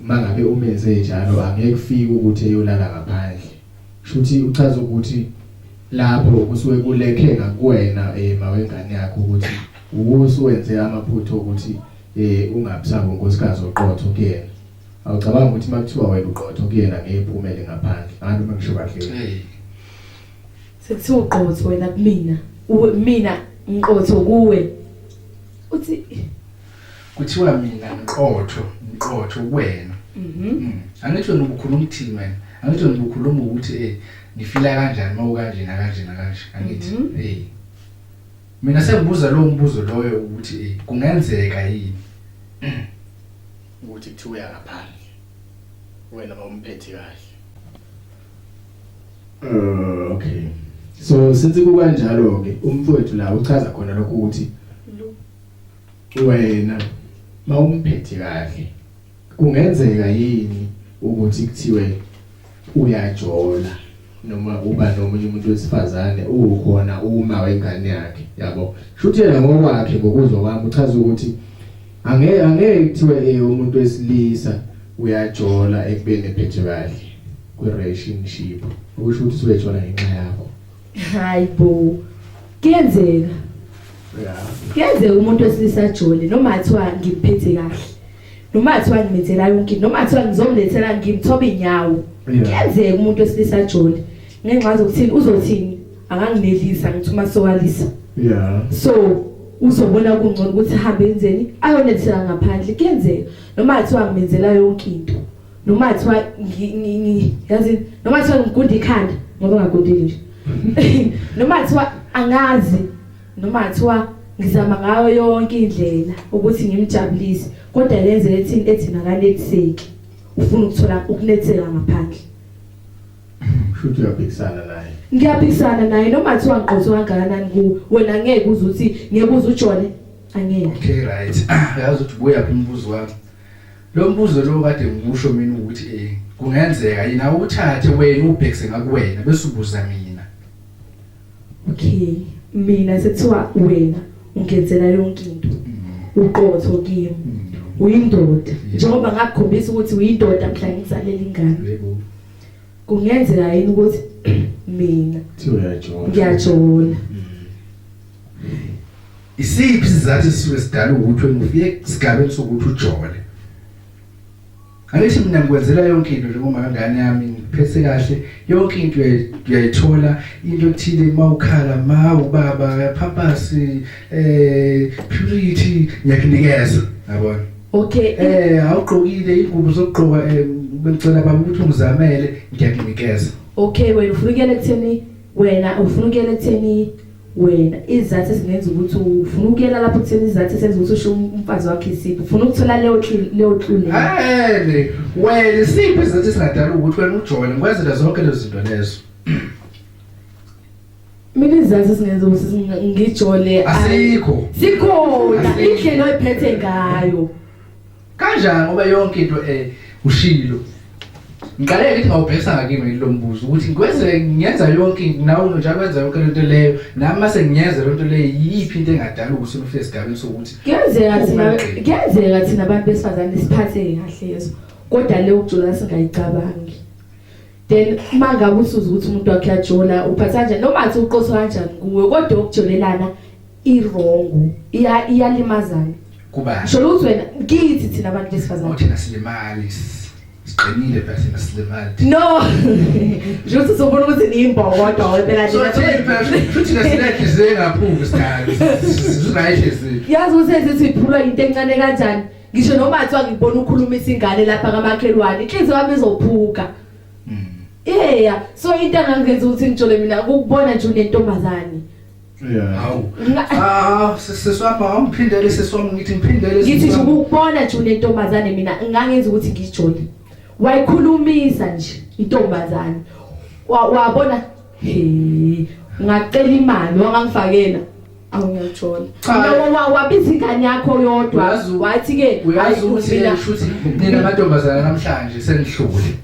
mangabe umenze njalo angeke ufike ukuthi eyolala ngaphandle shuthi uchaza ukuthi lapho kusuke kulekhe ngakuwena eh mawengane yakho ukuthi usuwenze amaphutho ukuthi eh ungabusabo nkosikazi oqotho kuyena awucabanga ukuthi makuthiwa wena uqotho kuyena ngeke uphumele ngaphandle angathi uma ngisho kahle Sekuthiwa uqotho wena kumina. Uwe mina ngiqotho kuwe. Uthi kuthiwa mina ngiqotho ngiqotho kuwena mhm. mm. angithi wena ubukhuluma ukuthini wena angithi wena ubukhuluma ukuthi eh ngifila kanjani uma ukanje nakanje nakanje angithi mhm. eh mina sengibuza lowo mbuzo loyo ukuthi eh kungenzeka yini ukuthi kuthiwa uyakaphandle wena bawumphethe kahle Uh, okay. So since kukanjalo ke umfowethu la uchaza khona lokho ukuthi wena mawumphethe kahle kungenzeka yini ukuthi kuthiwe uyajola noma uba nomunye umuntu wesifazane ukhona uma wengane yakhe yabo shuthi yena ngokwakhe ngokuzwa kwami uchaza ukuthi Angeke angeke kuthiwe eh umuntu wesilisa uyajola ekubeni ephethe kahle kwi relationship. Ukusho ukuthi usubejola ngenxa yakho. Hayi bo. Kuyenzeka. Yeah. Kuyenzeka umuntu wesilisa ajole noma athiwa ngiphethe kahle. Noma athiwa ngimethela yonke, noma athiwa ngizomlethela ngimthoba inyawo. Kuyenzeka umuntu wesilisa ajole. Ngenxa zokuthini uzothini? akangilelisa ngithi uma sokalisa yeah so uzobona kungcono ukuthi hambe enzeni ayonethela ngaphandle kuyenzeka noma athiwa ngimenzela yonke into noma athiwa yazi noma athiwa ngigunda ikhanda ngoba ngagundile nje noma athiwa angazi noma athiwa ngizama ngayo yonke indlela ukuthi ngimjabulise kodwa lenze ethi ethi nakanetheki ufuna ukuthola ukunethela ngaphandle Futhi uyaphikisana naye. Ngiyaphikisana naye noma kuthiwa ngiqotho kangakanani kuwe. Wena ngeke uze uthi ngeke uze ujole. Angeke. Okay right. Yazi ukuthi buya phi umbuzo wami. Lo mbuzo lo kade ngimusho mina ukuthi eh kungenzeka yini awuthathe wena ubhekise ngakuwena bese ubuza mina. Okay. Mina sekuthiwa wena ungenzela yonke into. Mm. Uqotho kimi. Mm. Uyindoda. Njengoba ngakukhombisa ukuthi uyindoda mhla ngizalele ingane. Yebo. Kungenzeka yini ukuthi mina siyajola. Ngiyajola. Isiphi sizathu sisuke sidala ukuthi ngifike sigabeni sokuthi ujole? Angithi mina ngikwenzela yonke into njengoba ngane yami ngiphethe kahle yonke into uyayithola into ethile mawukhala ma ubaba phaphasi eh purity ngiyakunikeza yabona okay eh awugqokile ingubo zokugqoka eh, bengicela baba ukuthi ungizamele ngiyakunikeza okay wena ufuna ukuyela kutheni Wena ufuna ukuyela ekutheni wena izathu ezingenza ukuthi ufuna ukuyela lapho kutheni izathu esenza ukuthi usho umfazi wakhe isiphi ufuna ukuthola leyo leyo tlule hey wena isiphi izathu esingadala ukuthi wena ujole ngikwenzela zonke lezo zinto lezo mina izathu esingenza ukuthi ngijole asikho sikhona indlela oyiphethe ngayo Kanjani ngoba yonke into eh ushilo. Ngiqale ngithi ngawubhekisa ngakimi lo mbuzo ukuthi ngikwenze ngiyenza yonke nawe njalo wenza yonke lento leyo nami mase ngiyenza lento leyo yiphi into engadala ukuthi ufike esigabeni sokuthi kuyenzeka thina kuyenzeka thina abantu besifazane siphathe kahle yeso kodwa leyo ukujula singayicabangi then uma ngabe usuza ukuthi umuntu wakhe yajola uphatha kanjani noma athi uqoso kanjani kuwe kodwa ukujolelana irongo iya iyalimazana kuba sholo ukuthi wena kithi thina abantu besifazane uthi nasilimali siqinile phela thina silimali no nje ukuthi sobona ukuthi niyimbobo kodwa wena so futhi nasilethi zengaphuki sikhathi right lezi yazi ukuthi ezithi iphulwa into encane kanjani ngisho noma athiwa ngibona ukhuluma isingane lapha kamakhelwane inhliziyo yami izophuka mm. yeah so into engangenza ukuthi ngijole mina ukubona nje unentombazane Hawu. Ah, siswapha awumphindele siswami ngithi ngiphindele. Ngithi nje ukubona nje unentombazane mina ngangenza ukuthi ngijole. Wayikhulumisa nje intombazane. Wabona he ngacela imali wangangifakela awungajola mina wabiza ingane yakho yodwa wathi ke uyazi ukuthi mina shuthi nina amantombazana namhlanje senihlule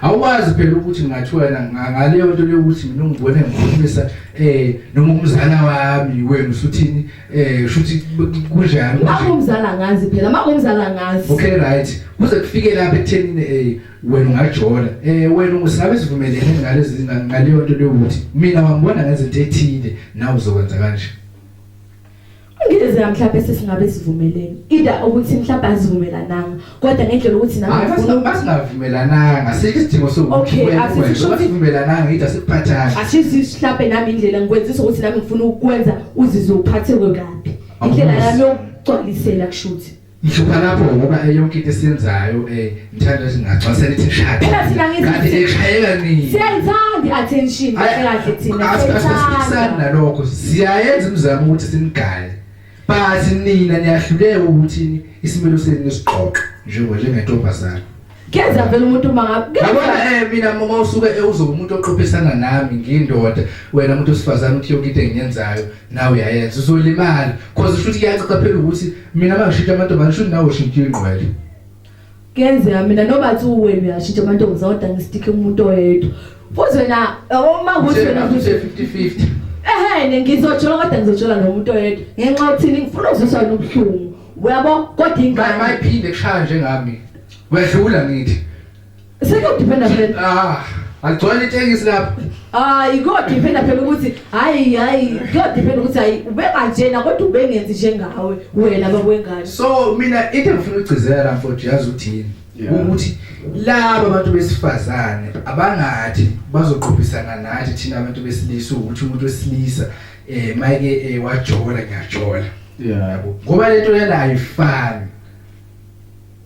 awukwazi phela ukuthi ngingathiwa yena ngaleyo nto leyo ukuthi mina ungibone ngikhulumisa eh noma umzala wami wena usuthini eh shuthi kunjani manje umzala ngazi phela manje umzala ngazi okay right kuze kufike lapha ekutheni eh wena ungajola eh wena ungasabe sivumelene ngalezi ngaleyo nto leyo ukuthi mina wangibona ngezinto ethile nawe uzokwenza kanje Ngiyezeka mhlawumbe sesingabe sivumelene. Either ukuthi mhlawumbe azivumelananga kodwa ngendlela ukuthi nawe Hayi ufuna basi basingavumelananga. Sike isidingo sokuthi Okay, kwenze asithi kwenze. kusho ukuthi- Basivumelananga ngitha sikuphathana. ashisi mhlawumbe nami indlela ngikwenzisa ukuthi nami ngifuna ukukwenza uzizwe uphatheke kabi. Indlela Awuzi. yami yokugcwalisela kushuthi. Ngihlupha lapho ngoba yonke into esiyenzayo eh ngithanda ukuthi ngagcwasela ithi shaya. Phela thina ngithi Kanti eshayeka nini? siyayithanda i-attention kahle kahle thina Asiphikisani siyayithanda nalokho. Siyayenza imizamo ukuthi simgale. But nina niyahluleka ukuthi isimilo senu nisiqoqe njengo njengentombazane. Keza vele umuntu uma ngabe yabona eh mina uma usuke ewuzo umuntu oqophisana nami ngindoda wena umuntu osifazana uthi yonke into engiyenzayo nawe uyayenza uzolimala cause futhi kuyacaca phela ukuthi mina mangishintsha amantombazane shuthi nawe ushintsha ingqwele kuyenzeka mina noma athi uwena uyashintsha amantombazane kodwa ngisitike umuntu oyedwa futhi wena uma ukuthi wena futhi 50 50 ehene ngizojola kodwa ngizojola nomuntu oyedwa ngenxa yokuthini ngifuna ukuziswa nobuhlungu uyabo kodwa ingane mayiphinde kushaya njengami wedlula ngithi sekuyodependa phela ah agcwele itekisi lapho hayi kodependa phela ukuthi hayi hayi kodependa ukuthi hayi ubenganjena kodwa ubengenzi njengawe wena bakwengane so mina into engifuna ukugcizela mfowethu yazi uthini ukuthi laba bantu besifazane abangathi bazoqhubisana nathi thina abantu besilisa ukuthi umuntu wesilisa eh mayike eh, wajola ngiyajola yeah yabo ngoba lento yena ayifani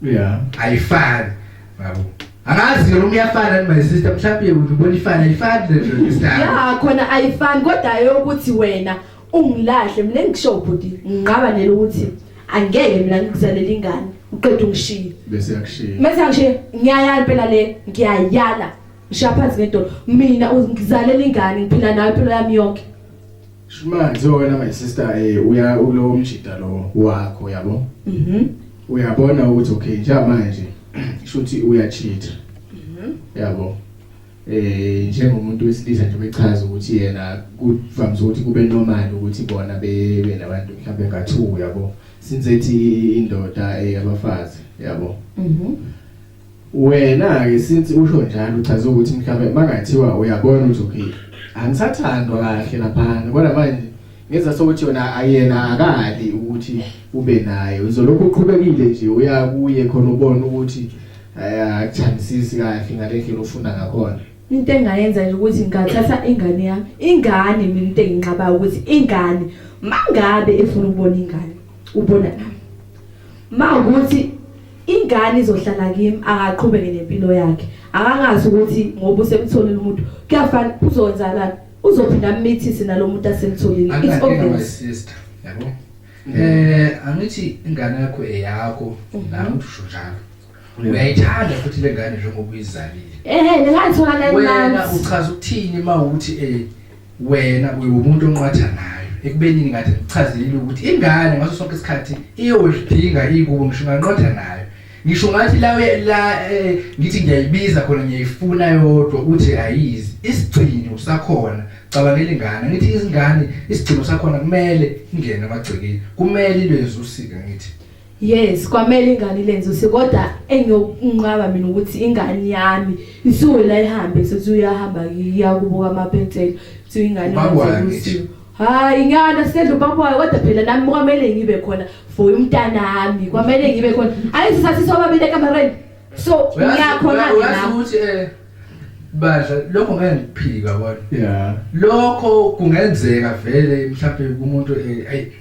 yeah ayifani yabo angazi ke noma iyafana my sister mhlawumbe ubona ifana ayifani lento ngisana yeah khona ayifani kodwa eyokuthi wena ungilahle mina ngisho ubhuti ngiqaba nele ukuthi angeke mina ngikuzalela ingane uqeda ungishiye bese yakushiya bese yakushiya ngiyayala phela le ngiyayala ngishiya phansi ngedolo mina ngizalela ingane ngiphila nayo impilo yami yonke Shumani so wena my sister eh uya ulo mjita lo wakho yabo. Mhm. Uyabona ukuthi okay njengamanje shuthi uyacheat. Mhm. Yabo. Eh njengomuntu wesilisa nje bechaza ukuthi yena kuvamise ukuthi kube normal ukuthi bona bebe nabantu mhlawumbe ngathu yabo. Since ethi indoda eyabafazi eh, yabo. Mhm. Wena ke since usho njalo uchaza ukuthi mhlawumbe makungathiwa uyabona ukuthi uphila. Angisathandwa kahle laphana kodwa manje ngenza sokuthi yona ayena akali ukuthi ube naye. Uzolokhu uqhubekile nje uya kuye khona ubone ukuthi akuthandisisi kahle ngale ndlela ofunda ngakhona. Into engayenza nje ukuthi ngingathatha ingane yami. Ingane mina into enginqabayo ukuthi ingane mangabe efuna ukubona ingane ubona nami. Mawukuthi ingane izohlala kimi akaqhubeke nempilo yakhe akangazi ukuthi ngoba usemtholile umuntu kuyafana uzonzalana uzophinda amithise nalomuntu asemtholile it's obvious yabo eh angithi ingane yakho eyakho mhm. nawe usho njalo uyayithanda futhi lengane njengoba uyizalile ehe ngingayithola kanjani wena uchaza ukuthini mawuthi eh Wena uyiwumuntu onqwathanayo ekubeni ngathi ngichazelile ukuthi ingane ngaso sonke isikhathi iyolidinga ikubo ngisho nganqotha nayo. Ngisho ngathi la la eh, ngithi ngiyayibiza khona ngiyayifuna yodwa uthi ayizi. Isigcino usakhona cabangela ingane ngithi izingane isigcino sakhona kumele ingene amagcekeni kumele ilwezi usika ngithi Yes, kwamele ingane ilenze use kodwa engiyokunqaba mina ukuthi ingane yami isuwela ihambe sethi uyahamba iya kubuka amapentshela kuthi ingane yenze Hayi ngiyana sedlo babuya kodwa phela nami kwamele ngibe khona for umntanami kwamele ngibe khona ayisathi sobabile kamareni so ngiyakhona ukuthi eh badla lokho ngeke ngiphika kodwa yeah lokho kungenzeka vele mhlawumbe kumuntu eh ayi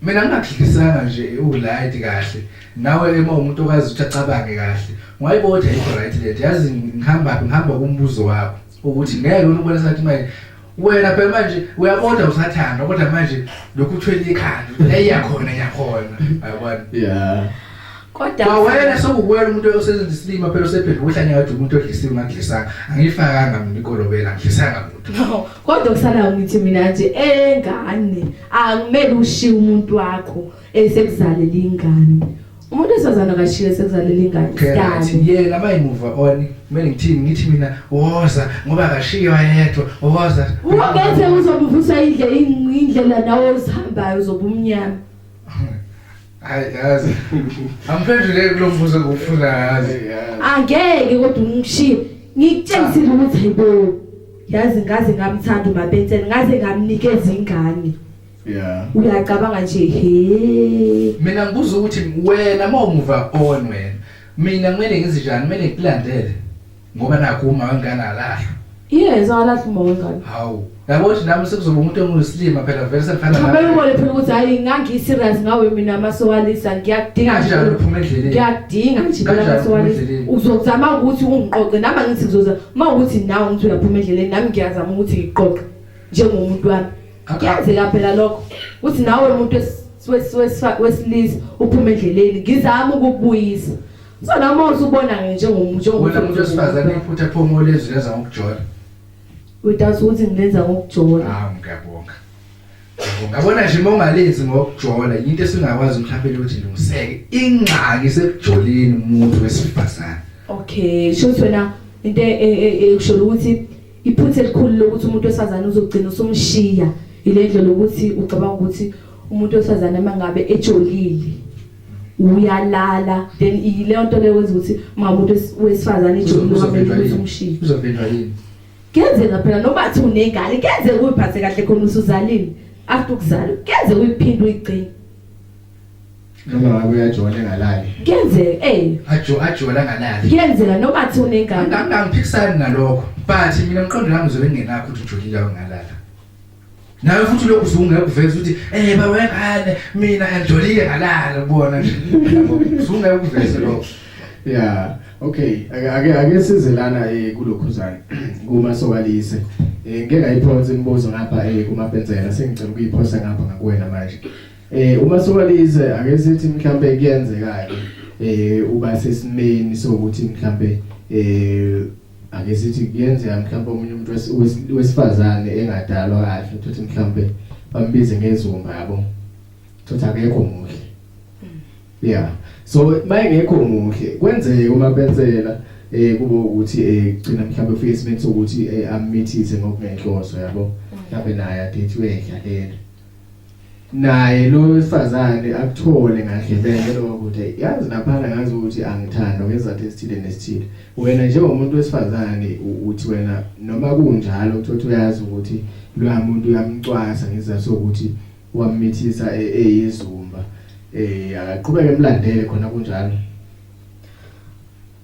Mina ngingakudlisanga nje ulight kahle. Nawe uma umuntu okwazi ukuthi acabange kahle. Ngwayiboda into right lento. Yazi ngihamba ngihamba kumbuzo wakho ukuthi ngeke ubone sathi manje wena phela manje uyaboda usathanda kodwa manje lokhu uthwele ikhanda eyakhona yakhona ayabona yeah kodwa wena sokuwela umuntu osebenza isilima phela usephendula uhlanya ngathi umuntu odlisiwe ngakudlisanga angifakanga mina ikolobela ngidlisanga muntu Kodwa kusalayo ngithi mina nje engane akumele ushiye umuntu wakho esekuzalele ingane. Umuntu esazana kashiye sekuzalele ingane. Kanti yena abayimuva on kumele ngithini ngithi mina woza ngoba kashiyo yedwa woza. Ubese uzobuvusa indle indlela nawe uzihambayo uzobumnyama. Hayi yazi. Amphendule kulombuzo ngokufuna yazi. Angeke kodwa ungishiye. Ngikutshengise ukuthi hayibo. Yazi ngaze ngamthanda uMabetseni, ngaze ngamnikeza ingane. Yeah. Uyacabanga nje he. Mina ngibuza ukuthi wena mawumuva on wena. Mina kumele ngizinjani? Kumele ngikulandele. Ngoba nakho uma wengane alahlwa. Yes, alahlwa uma wengane. Hawu. Yabo ukuthi nami sekuzoba umuntu engusilima phela vele sefana nami. Phela ubone phela ukuthi hayi ngangi serious ngawe mina masowalisa ngiyakudinga nje. Kanjalo uphuma endleleni. Ngiyakudinga nje phela masowalisa. Uzokuzama ukuthi ungiqoqe nami ngithi ngizoza uma ukuthi nawe ngithi uyaphuma endleleni nami ngiyazama ukuthi ngiqoqe njengomuntu wami. Kuyenzeka phela lokho. Uthi nawe umuntu wesilisa uphuma endleleni ngizama ukubuyisa. So la uma usubona nje njengomuntu njengomuntu wena umuntu osifazane iphutha phomo lezwi lenza ngokujola. Udazi ukuthi ngilenza ngokujola. Hawu ngiyabonga. Ngabona nje mongalenzi ngokujola into esingakwazi mhlawumbe ukuthi ilungiseke ingxaki sekujoleni umuntu wesifazane. Okay, sho wena into e, e, e, ekusho ukuthi iphutha elikhulu lokuthi umuntu wesifazane uzogcina usumshiya ile ndlela lokuthi ucabanga ukuthi umuntu wesifazane mangabe ejolile uyalala then iyileyo nto leyo wenza ukuthi ungamuntu wesifazane ijoni uzovinjwa yini uzovinjwa yini kenzeka phela noma athi unengane kenzeka uyiphathe kahle khona usuzalile after ukuzala kenze uyiphinde uyigcine noma ngabe uyajola engalali kenzeka eh ajo ajola ngalali kenzeka noma athi unengane angangiphikisani nalokho but mina mqondo nami uzobe ngenakho ukuthi ujolile ungalala nawe futhi lokhu usungeke kuveza ukuthi eh baba wengane mina ngijolile ngalala kubona nje usungeke kuveze lokho yeah okay ake ake sizelana eh kulokhuzane kuma sokalise eh ngeke ayiphonse imibuzo ngapha eh kuma benzela sengicela ukuyiphosa ngapha ngakuwena manje eh uma sokalise ake sithi mhlambe kuyenzeka eh uba sesimeni sokuthi mhlambe eh ake sithi kuyenzeka mhlawumbe omunye umuntu wesifazane engadalwa kahle ukuthi mhlawumbe bambize ngezumba yabo thothi akekho muhle yeah so mayengekho muhle kwenzeke uma benzela eh kube ukuthi eh gcina mhlawumbe ufike esimeni sokuthi eh, amithise ngokungenhloso yabo mhlawumbe naye adethiwe edlaleni naye lo wesifazane akuthole ngagibele lowo kude yazi laphana ngazi ukuthi angithandwa ngezathu esithile nesithile wena njengomuntu wesifazane uthi wena noma kunjalo uthothi uyazi ukuthi loya muntu uyamcwasa ngezathu sokuthi wamithisa e, eyizumba eh akaqhubeke emlandele khona kunjalo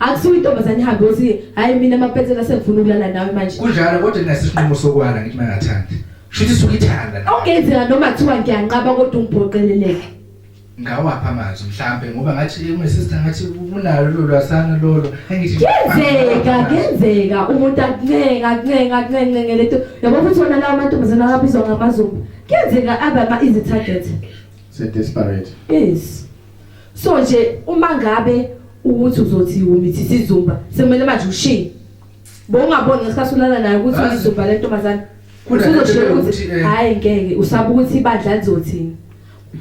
akusuke intombazane ihambe ukuthi hayi mina amapetsela sengifuna ukulala nawe manje kunjalo kodwa nginasesinqumo sokwala ngithi mangathandi shuthi suke ithanda okungenzeka noma kuthiwa ngiyanqaba kodwa ungibhoqeleleke ngawapha amazwi mhlambe ngoba ngathi my sister ngathi unalo lolu lwasana lolo engithi kenzeka kenzeka umuntu akuncenga akuncenga akuncenga lento yabo futhi wona lawo mantombazana abizwa ngamazulu Kuyenzeka abe ama easy target. Se desperate. Yes. So nje uma ngabe ukuthi uzothi umithi sizumba sekumele manje ushiye. Bowungaboni ngesikhathi ulala naye ukuthi Ah. uzumba le ntombazane. Khona Usuzoshela nento ukuthi yokuthi, eh, hayi ngeke usaba ukuthi ibandla lizothini.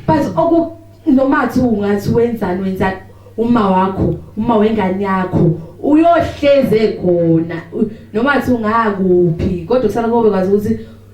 But oku noma athi ungathi wenzani wenzani uma wakho, uma wengane yakho uyohleze khona. U- Noma athi ungakuphi kodwa kusala kobe kwazi ukuthi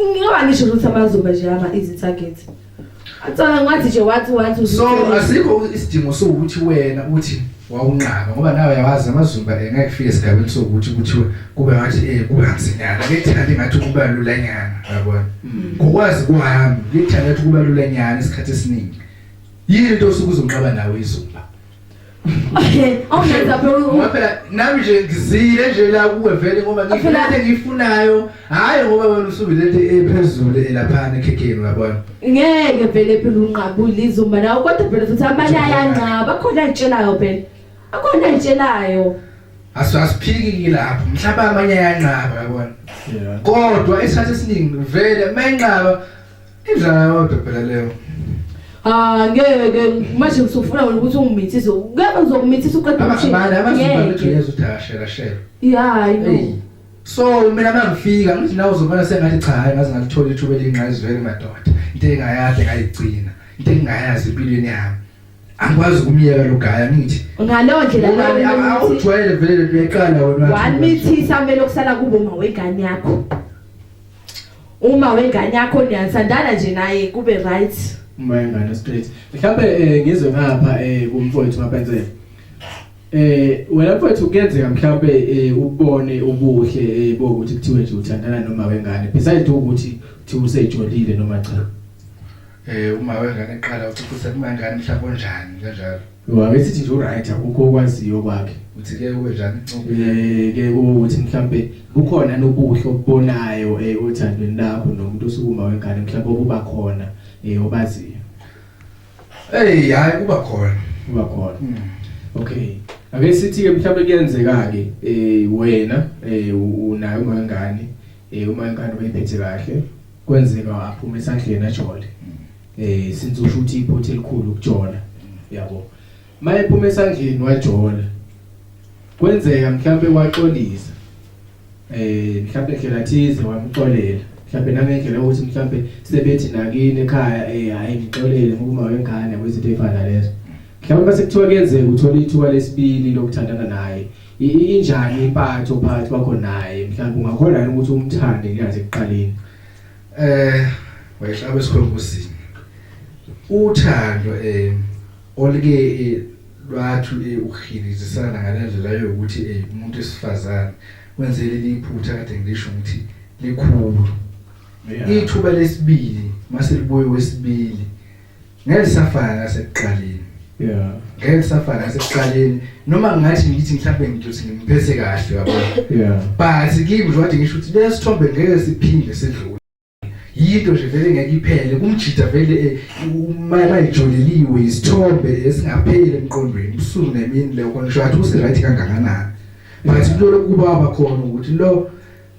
Ngoba ngisho ukuthi amazuba nje ama easy target. Atsala ngathi nje wathi wathi So asikho isidingo sokuthi wena uthi wawunqaba ngoba nawe yawazi amazumba engeke fike esigabeni sokuthi kuthiwe kube ngathi eh kubanzinyana lethanda ngathi kuba lulanyana yabona mm. ngokwazi kwami lethanda ukuthi kuba lulanyana isikhathi esiningi yini into osuke uzonqaba nawe izumba awungenza phela ngoba phela nami nje ngizile nje la kuwe vele ngoba ngifuna into engiyifunayo hhayi ngoba wena usuke le nto ephezulu elaphana ekhekheni uyabona ngeke vele phela unqabule izumba nawo kodwa phela futhi abanye ayanqaba akhona ayitshelayo phela akhona ayitshelayo asiphiki lapho mhlawumbe amanye ayanqaba yabona kodwa isikhathi esiningi vele uma enqaba Indlala yodwa phela leyo. Ah ngeke manje ngisufuna wena ukuthi ungimithise. Ngeke ngizomithisa uqeda umshini. Abana abazibona ukuthi uyeza uthashela shela. Yeah, I know. So mina mangifika ngithi nawe uzobona sengathi cha hayi ngaze ngalithola ithuba elingqayizwele madoda. Into engayade ngayigcina. Into engayazi empilweni yami. angikwazi ukumyeka lo gaya ngithi ngaleyo ndlela awujwayele vele uyayiqala wena wamithisa kumele okusala kubo mawegane yakho uma wengane yakho niyathandana nje naye kube right uma wengane straight mhlawumbe eh, ngizwe ngapha eh, kumfowethu mapenzela eh wena mfowethu kuyenzeka mhlawumbe eh, ubone ubuhle bokuthi kuthiwe nje uthandana noma wengane besides ukuthi uthi usejolile noma cha eh uma wengane eqala uthi kusekumancane mhlawumbe onjani kanjalo Yo akesithi nje uright akukho okwaziyo kwakhe. Uthi ke ube njani incobo? Eh ke ukuthi mhlambe kukhona nobuhle obubonayo eh othandweni lakho nomuntu osukuma wengane mhlambe obuba khona eh obaziyo. Hey hayi kuba khona. Kuba khona. Hmm. Okay. Ake sithi ke mhlambe kuyenzeka ke eh wena eh unayo wengane eh uma ingane uyiphethe kahle kwenzeka aphuma esandleni ajole. eh since usho ukuthi iphutha elikhulu ukujola yabo maye phuma esandleni wajola kwenzeka mhlawumbe waxolisa eh mhlawumbe ndlela thize wamxolela mhlawumbe nangendlela ukuthi mhlawumbe sebethi nakini ekhaya eh hayi ngixolele ngokuma wengane kwezinto efana lezo mhlawumbe base kuthiwa kuyenzeka uthola ithuba lesibili lokuthandana naye injani impatho phakathi kwakho naye mhlawumbe ungakhona ukuthi umthande ngiyazi ekuqaleni Eh wayehlaba esikhongozini. Uthando eh olike eh, lwathu eh, ukuhilizisana ngalendlela yokuthi eh, umuntu esifazane wenzele liphutha kade ngisho ukuthi likhulu. Ithuba lesibili mase libuye wesibili ngeke safana nasekuqaleni yeah ngeke kusafana nasekuqaleni noma ngathi ngithi mhlawumbe ngithi ngimphethe kahle yabo yeah but kimi nje wathi ngisho ukuthi lesithombe ngeke siphinde sidlule yinto nje vele ngeke iphele kumjida vele eh, mayijoleliwe isithombe esingapheli emqondweni ubusuku nemini leyo khona ngisho athi usiright kangakanani but kulolo kuba abakhona ukuthi lo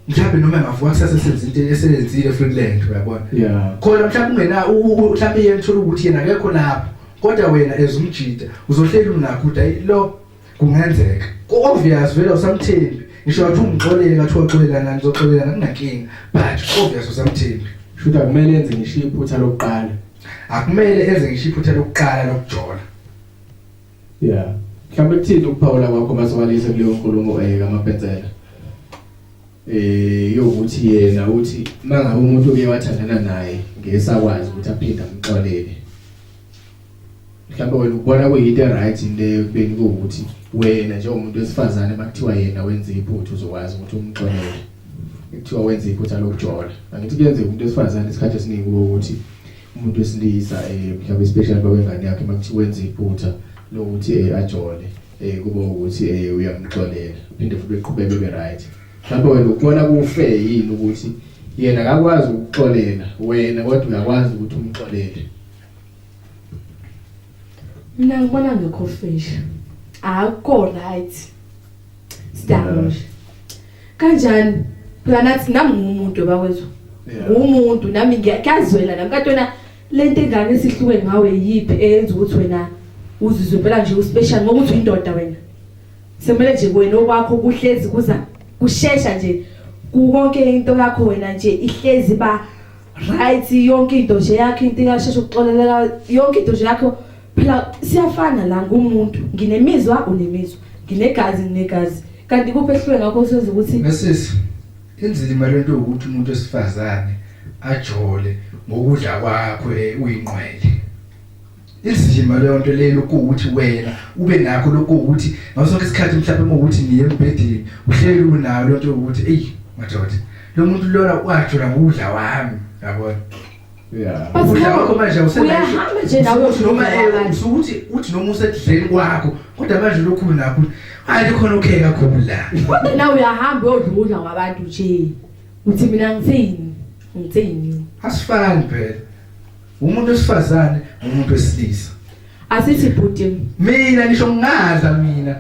mhlawumbe noma engavuka kusasa esenza into eseyenzile futhi lento uyabona yeah khona mhlawumbe ungena mhlawumbe yena thola ukuthi yena akekho lapho kodwa wena ezumjida uzohleli unakho uthi ayi lo kungenzeka obvious vele usamthembi ngisho wathi ungixolele ngathi waxolelana ngizoxolelana kunankinga but obvious usamthembi shuthi akumele enze ngisho iphutha lokuqala akumele enze ngisho iphutha lokuqala lokujola Yeah. Mhlawumbe kuthini ukuphawula kwakho masiwalise kuleyo nkulumo eyeka amapensela. Eh yokuthi yena uthi mangabe umuntu uke wathandana naye ngesakwazi ukuthi aphinde amxolele. Mhlawumbe wena ubona kuyinto right leyo kubeni ukuthi wena njengomuntu wesifazane bakuthiwa yena wenza iphuthu uzokwazi ukuthi umxolele. Kuthiwa wenza iphutha lokujola. Angithi kuyenzeka umuntu wesifazane isikhathi esiningi ukuthi umuntu wesilisa eh mhlawumbe especially babengane yakhe makuthiwa wenza iphutha lokuthi eh ajole eh kube ukuthi eh uyamxolela phinde futhi beqhubeke be right mhlawumbe wena ukubona kufe yini ukuthi yena akakwazi ukuxolela wena kodwa uyakwazi ukuthi umxolele mina ngibona ngekho fish akukho right Sidamusha. Kanjani? Phela nathi nami ngumuntu bakwethu. Ngumuntu nami ngiyazwela nami katona lento engane sihluke ngawe yipi eyenza ukuthi wena uzizwe phela nje uspecial ngoba uthi indoda wena. Semele nje wena okwakho kuhlezi kuza kushesha nje kukonke into yakho wena nje ihlezi ba right yonke into nje yakho into ingasheshe ukuxolelela yonke into nje yakho phela siyafana la ngumuntu nginemizwa unemizwa nginegazi nginegazi kanti kuphi ehlwe ngakho senza ukuthi mesisi inzima lento ukuthi umuntu esifazane ajole ngokudla kwakho uyinqwele izima leyo nto leyo ukuthi wena ube nakho lokho ukuthi ngaso sonke isikhathi mhlawumbe ukuthi ngiye embhedeni uhleli unayo lento ukuthi eyi madoda lo muntu lona wajola ngokudla wami yabona Yeah. But Ukudla kwakho manje awusenayo- uyahamba nje nawe Usukuthi noma eh, uyokudla usukuthi uthi noma usedleni kwakho kodwa manje lokhu nakho hayi khona okay kakhulu la kodwa nawe uyahamba uyodlula kwabantu nje uthi mina ngithini ngithini asifani phela umuntu wesifazane umuntu wesilisa asithi bhuti mina ngisho ngingadla mina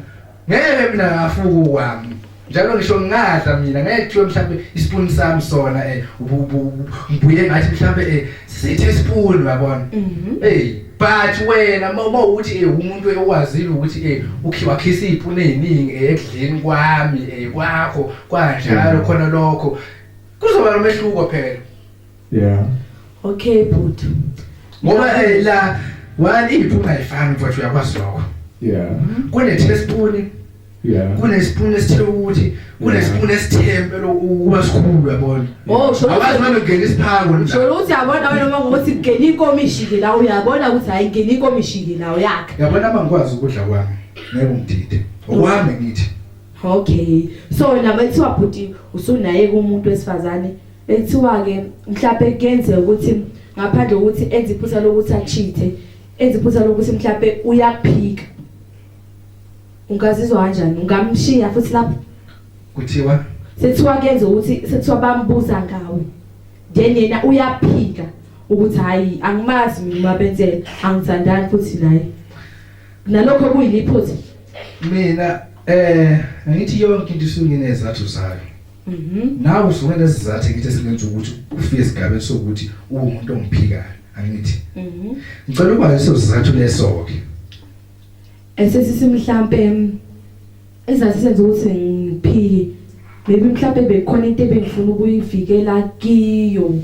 ngeke mina ngafuku wami njalo ngisho ngingadla mina ngeke kuthiwe mhlambe ispoon sami sona eh ngibuye ngathi mhlambe eh sithi ispoon yabona mhm. hey but wena uma uthi eh umuntu ewazile ukuthi eh ukhiwa khisa ipune eziningi eh, ekudleni kwami eh kwakho kwanjalo mhm. khona lokho kuzoba nomehluko phela yeah okay bhuti ngoba eh la wani iphupha ifani mfowethu uyakwazi lokho yeah kune teaspoon yeah kunespoon esithe ukuthi kunespoon esithembe lokuba sikhulu yabona oh sho abazi manje ngene isiphako nje sho uthi yabona wena uma ngothi ngene inkomishi ke la uyabona ukuthi hayi ngene inkomishi ke la yakhe yabona uma ngikwazi ukudla kwami ngeke ngidide okwami ngithi okay so nabethiwa bhuti usunaye kumuntu wesifazane Bekuthiwa-ke mhlawumbe kuyenzeka ukuthi ngaphandle kokuthi enze iphutha lokuthi achithe enze iphutha lokuthi mhlawumbe uyaphika ungazizwa kanjani ungamshiya futhi lapho kuthiwa sethiwa kenze ukuthi sethiwa bambuza ngawe then yena uyaphika ukuthi hayi angimazi mina mabenzela angithandani futhi naye nalokho kuyiliphothi mina eh ngithi yonke into isunginezathu zayo Mhm. Nawe usuke nesizathu ngithi singenza ukuthi ufike esigabeni sokuthi uwumuntu ongiphikayo. Angithi. Mhm. Ngicela ukuba leso sizathu leso ke. Esesisi mhlambe izazi senza ukuthi ngiphiki. Maybe mhlambe bekhona into ebengifuna ukuyivikela kiyo.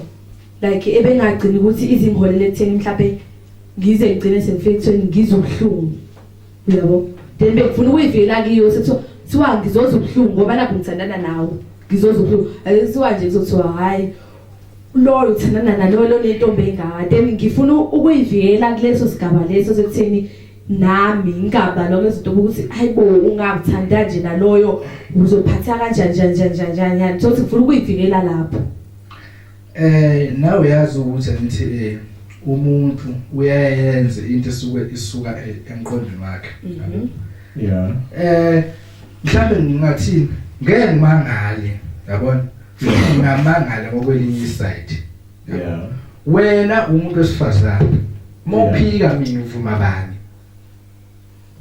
Like ebengagcini ukuthi izingholele ekutheni mhlambe ngize ngigcine sengifike ekutheni ngizwe ubuhlungu. uyabo then bekufuna ukuyivikela kiyo sekuthiwa kuthiwa ngizoza ubuhlungu ngoba nakho ngithandana nawe ngizoza ubuhlungu ake kuthiwa nje kuzothiwa hhayi loyo uthandana naloyo lonentombi engaka then ngifuna ukuyivikela kuleso sigaba leso sekutheni nami ngingaba noma izinto ukuthi hayibo ungakuthanda nje naloyo uzophatha kanjani njani njani njani njani sothi ngifuna ukuyivikela lapho Eh nawe uyazi ukuthi angithi eh umuntu uyayenza into esuke isuka e- emqondweni wakhe. Yabo? Yeah. Eh mhlawumbe ngingathini ngeke ngimangale yabona futhi ngingamangala ngokwelinye iside. Yeah. Wena umuntu wesifazane. Mophika mina uvuma bani?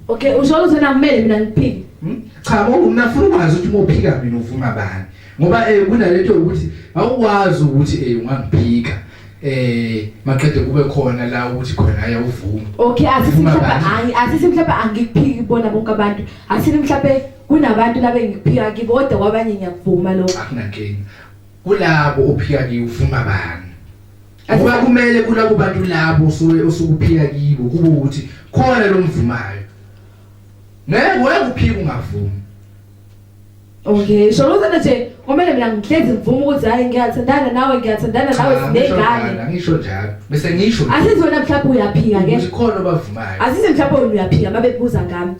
Okay, usho ukuthi nakumele mina ngiphike. Hmm? Cha, ngoba mina ngifuna ukwazi ukuthi uma uphika mina uvuma bani. Ngoba eh kunalento ukuthi awukwazi ukuthi eh ungangiphika. Eh maqede kube khona la ukuthi khona ayawuvuma. Okay, asithi mhlawumbe hayi, asithi mhlawumbe angikuphiki bona bonke abantu. Asithi mhlawumbe kunabantu labe ngiphika kibo kodwa kwabanye ngiyakuvuma lokho. Akunankinga. Kulabo ophika kiyo uvuma bani? Ngoba kumele kulabo bantu labo osuke osukuphika kibo kube ukuthi khona lomvumayo. Ngeke ngeke uphike ungavumi. Okay, so uthi nje kumele mina ngihlezi ngivume ukuthi hayi ngiyathandana nawe ngiyathandana nawe Cha, ngisho sinegane. njalo, Angisho njalo. Bese ngisho Asithi wena mhlawumbe uyaphika ke. ukuthi khona obavumayo. Asithi mhlawumbe wena uyaphika babebuza ngami.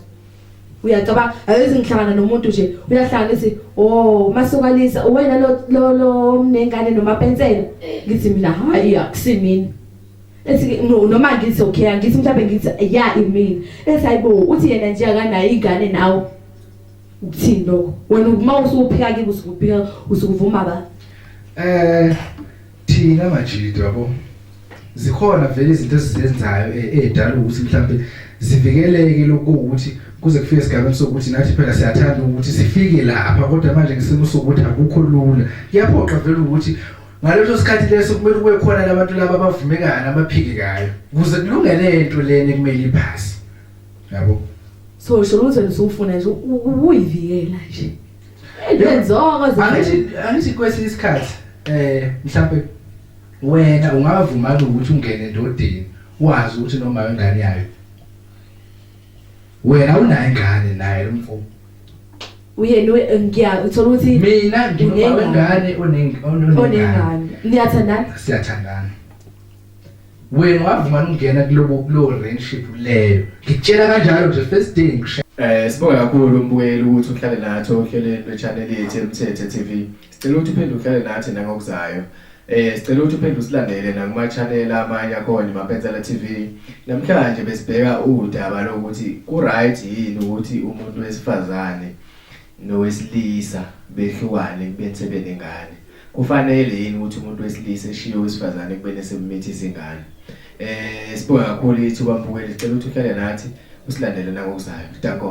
uyacabanga ayoze ngihlangana nomuntu nje uyahlangana ithi oh masukanisa uwena lo lo lo mnengane nomapensela ngithi mina hayi akusimini ethi no noma ngithi okay angithi mhlawumbe ngithi ya imini ethi hayibo uthi yena nje akanayo ingane nawe ukuthini lokho wena uma usuphika kibo usukubika usukuvuma ba eh Thina majita yabo zikhona vele izinto esizenzayo ezidala eh, ukuthi mhlambe zivikeleke lokho ukuthi kuze kufike esigabeni sokuthi nathi phela siyathanda ukuthi sifike lapha kodwa manje ngisimo sokuthi akukho lula kuyaphoqa vele ukuthi ngaleso sikhathi leso kumele kube khona labantu laba abavumekayo abaphikekayo kuze kulungele into leni kumele iphasi yabo so sho ukuthi usufuna nje ukuyivikela nje Lenzoko angithi angithi kwesinye isikhathi eh mhlawumbe wena ungavuma ukuthi ungene endodeni wazi ukuthi noma ingane yayo wena unayo ingane naye umfo uyena eh, ngiya uthola ukuthi mina ngingane onengane onengane niyathandana siyathandana wena wavuma ukungena kulobo kulo relationship leyo ngikutshela kanjalo nje first day ngisho Eh sibonga kakhulu umbukeli ukuthi uhlale nathi ohlelweni lwechannel yethu eMthethe TV. Sicela ukuthi uphinde uhlale nathi nangokuzayo. Eh sicela ukuthi uphinde usilandele nakuma channel amanye akhona Mapenzela TV. Namhlanje besibheka udaba lokuthi ku right yini ukuthi umuntu wesifazane nowesilisa behlukane ekubeni sebenengane kufanele yini ukuthi umuntu wesilisa eshiye owesifazane ekubeni esemumithisa ingane eh sibonga kakhulu ithuba mbukeli cela ukuthi uhlale nathi usilandele nangokuzayo danko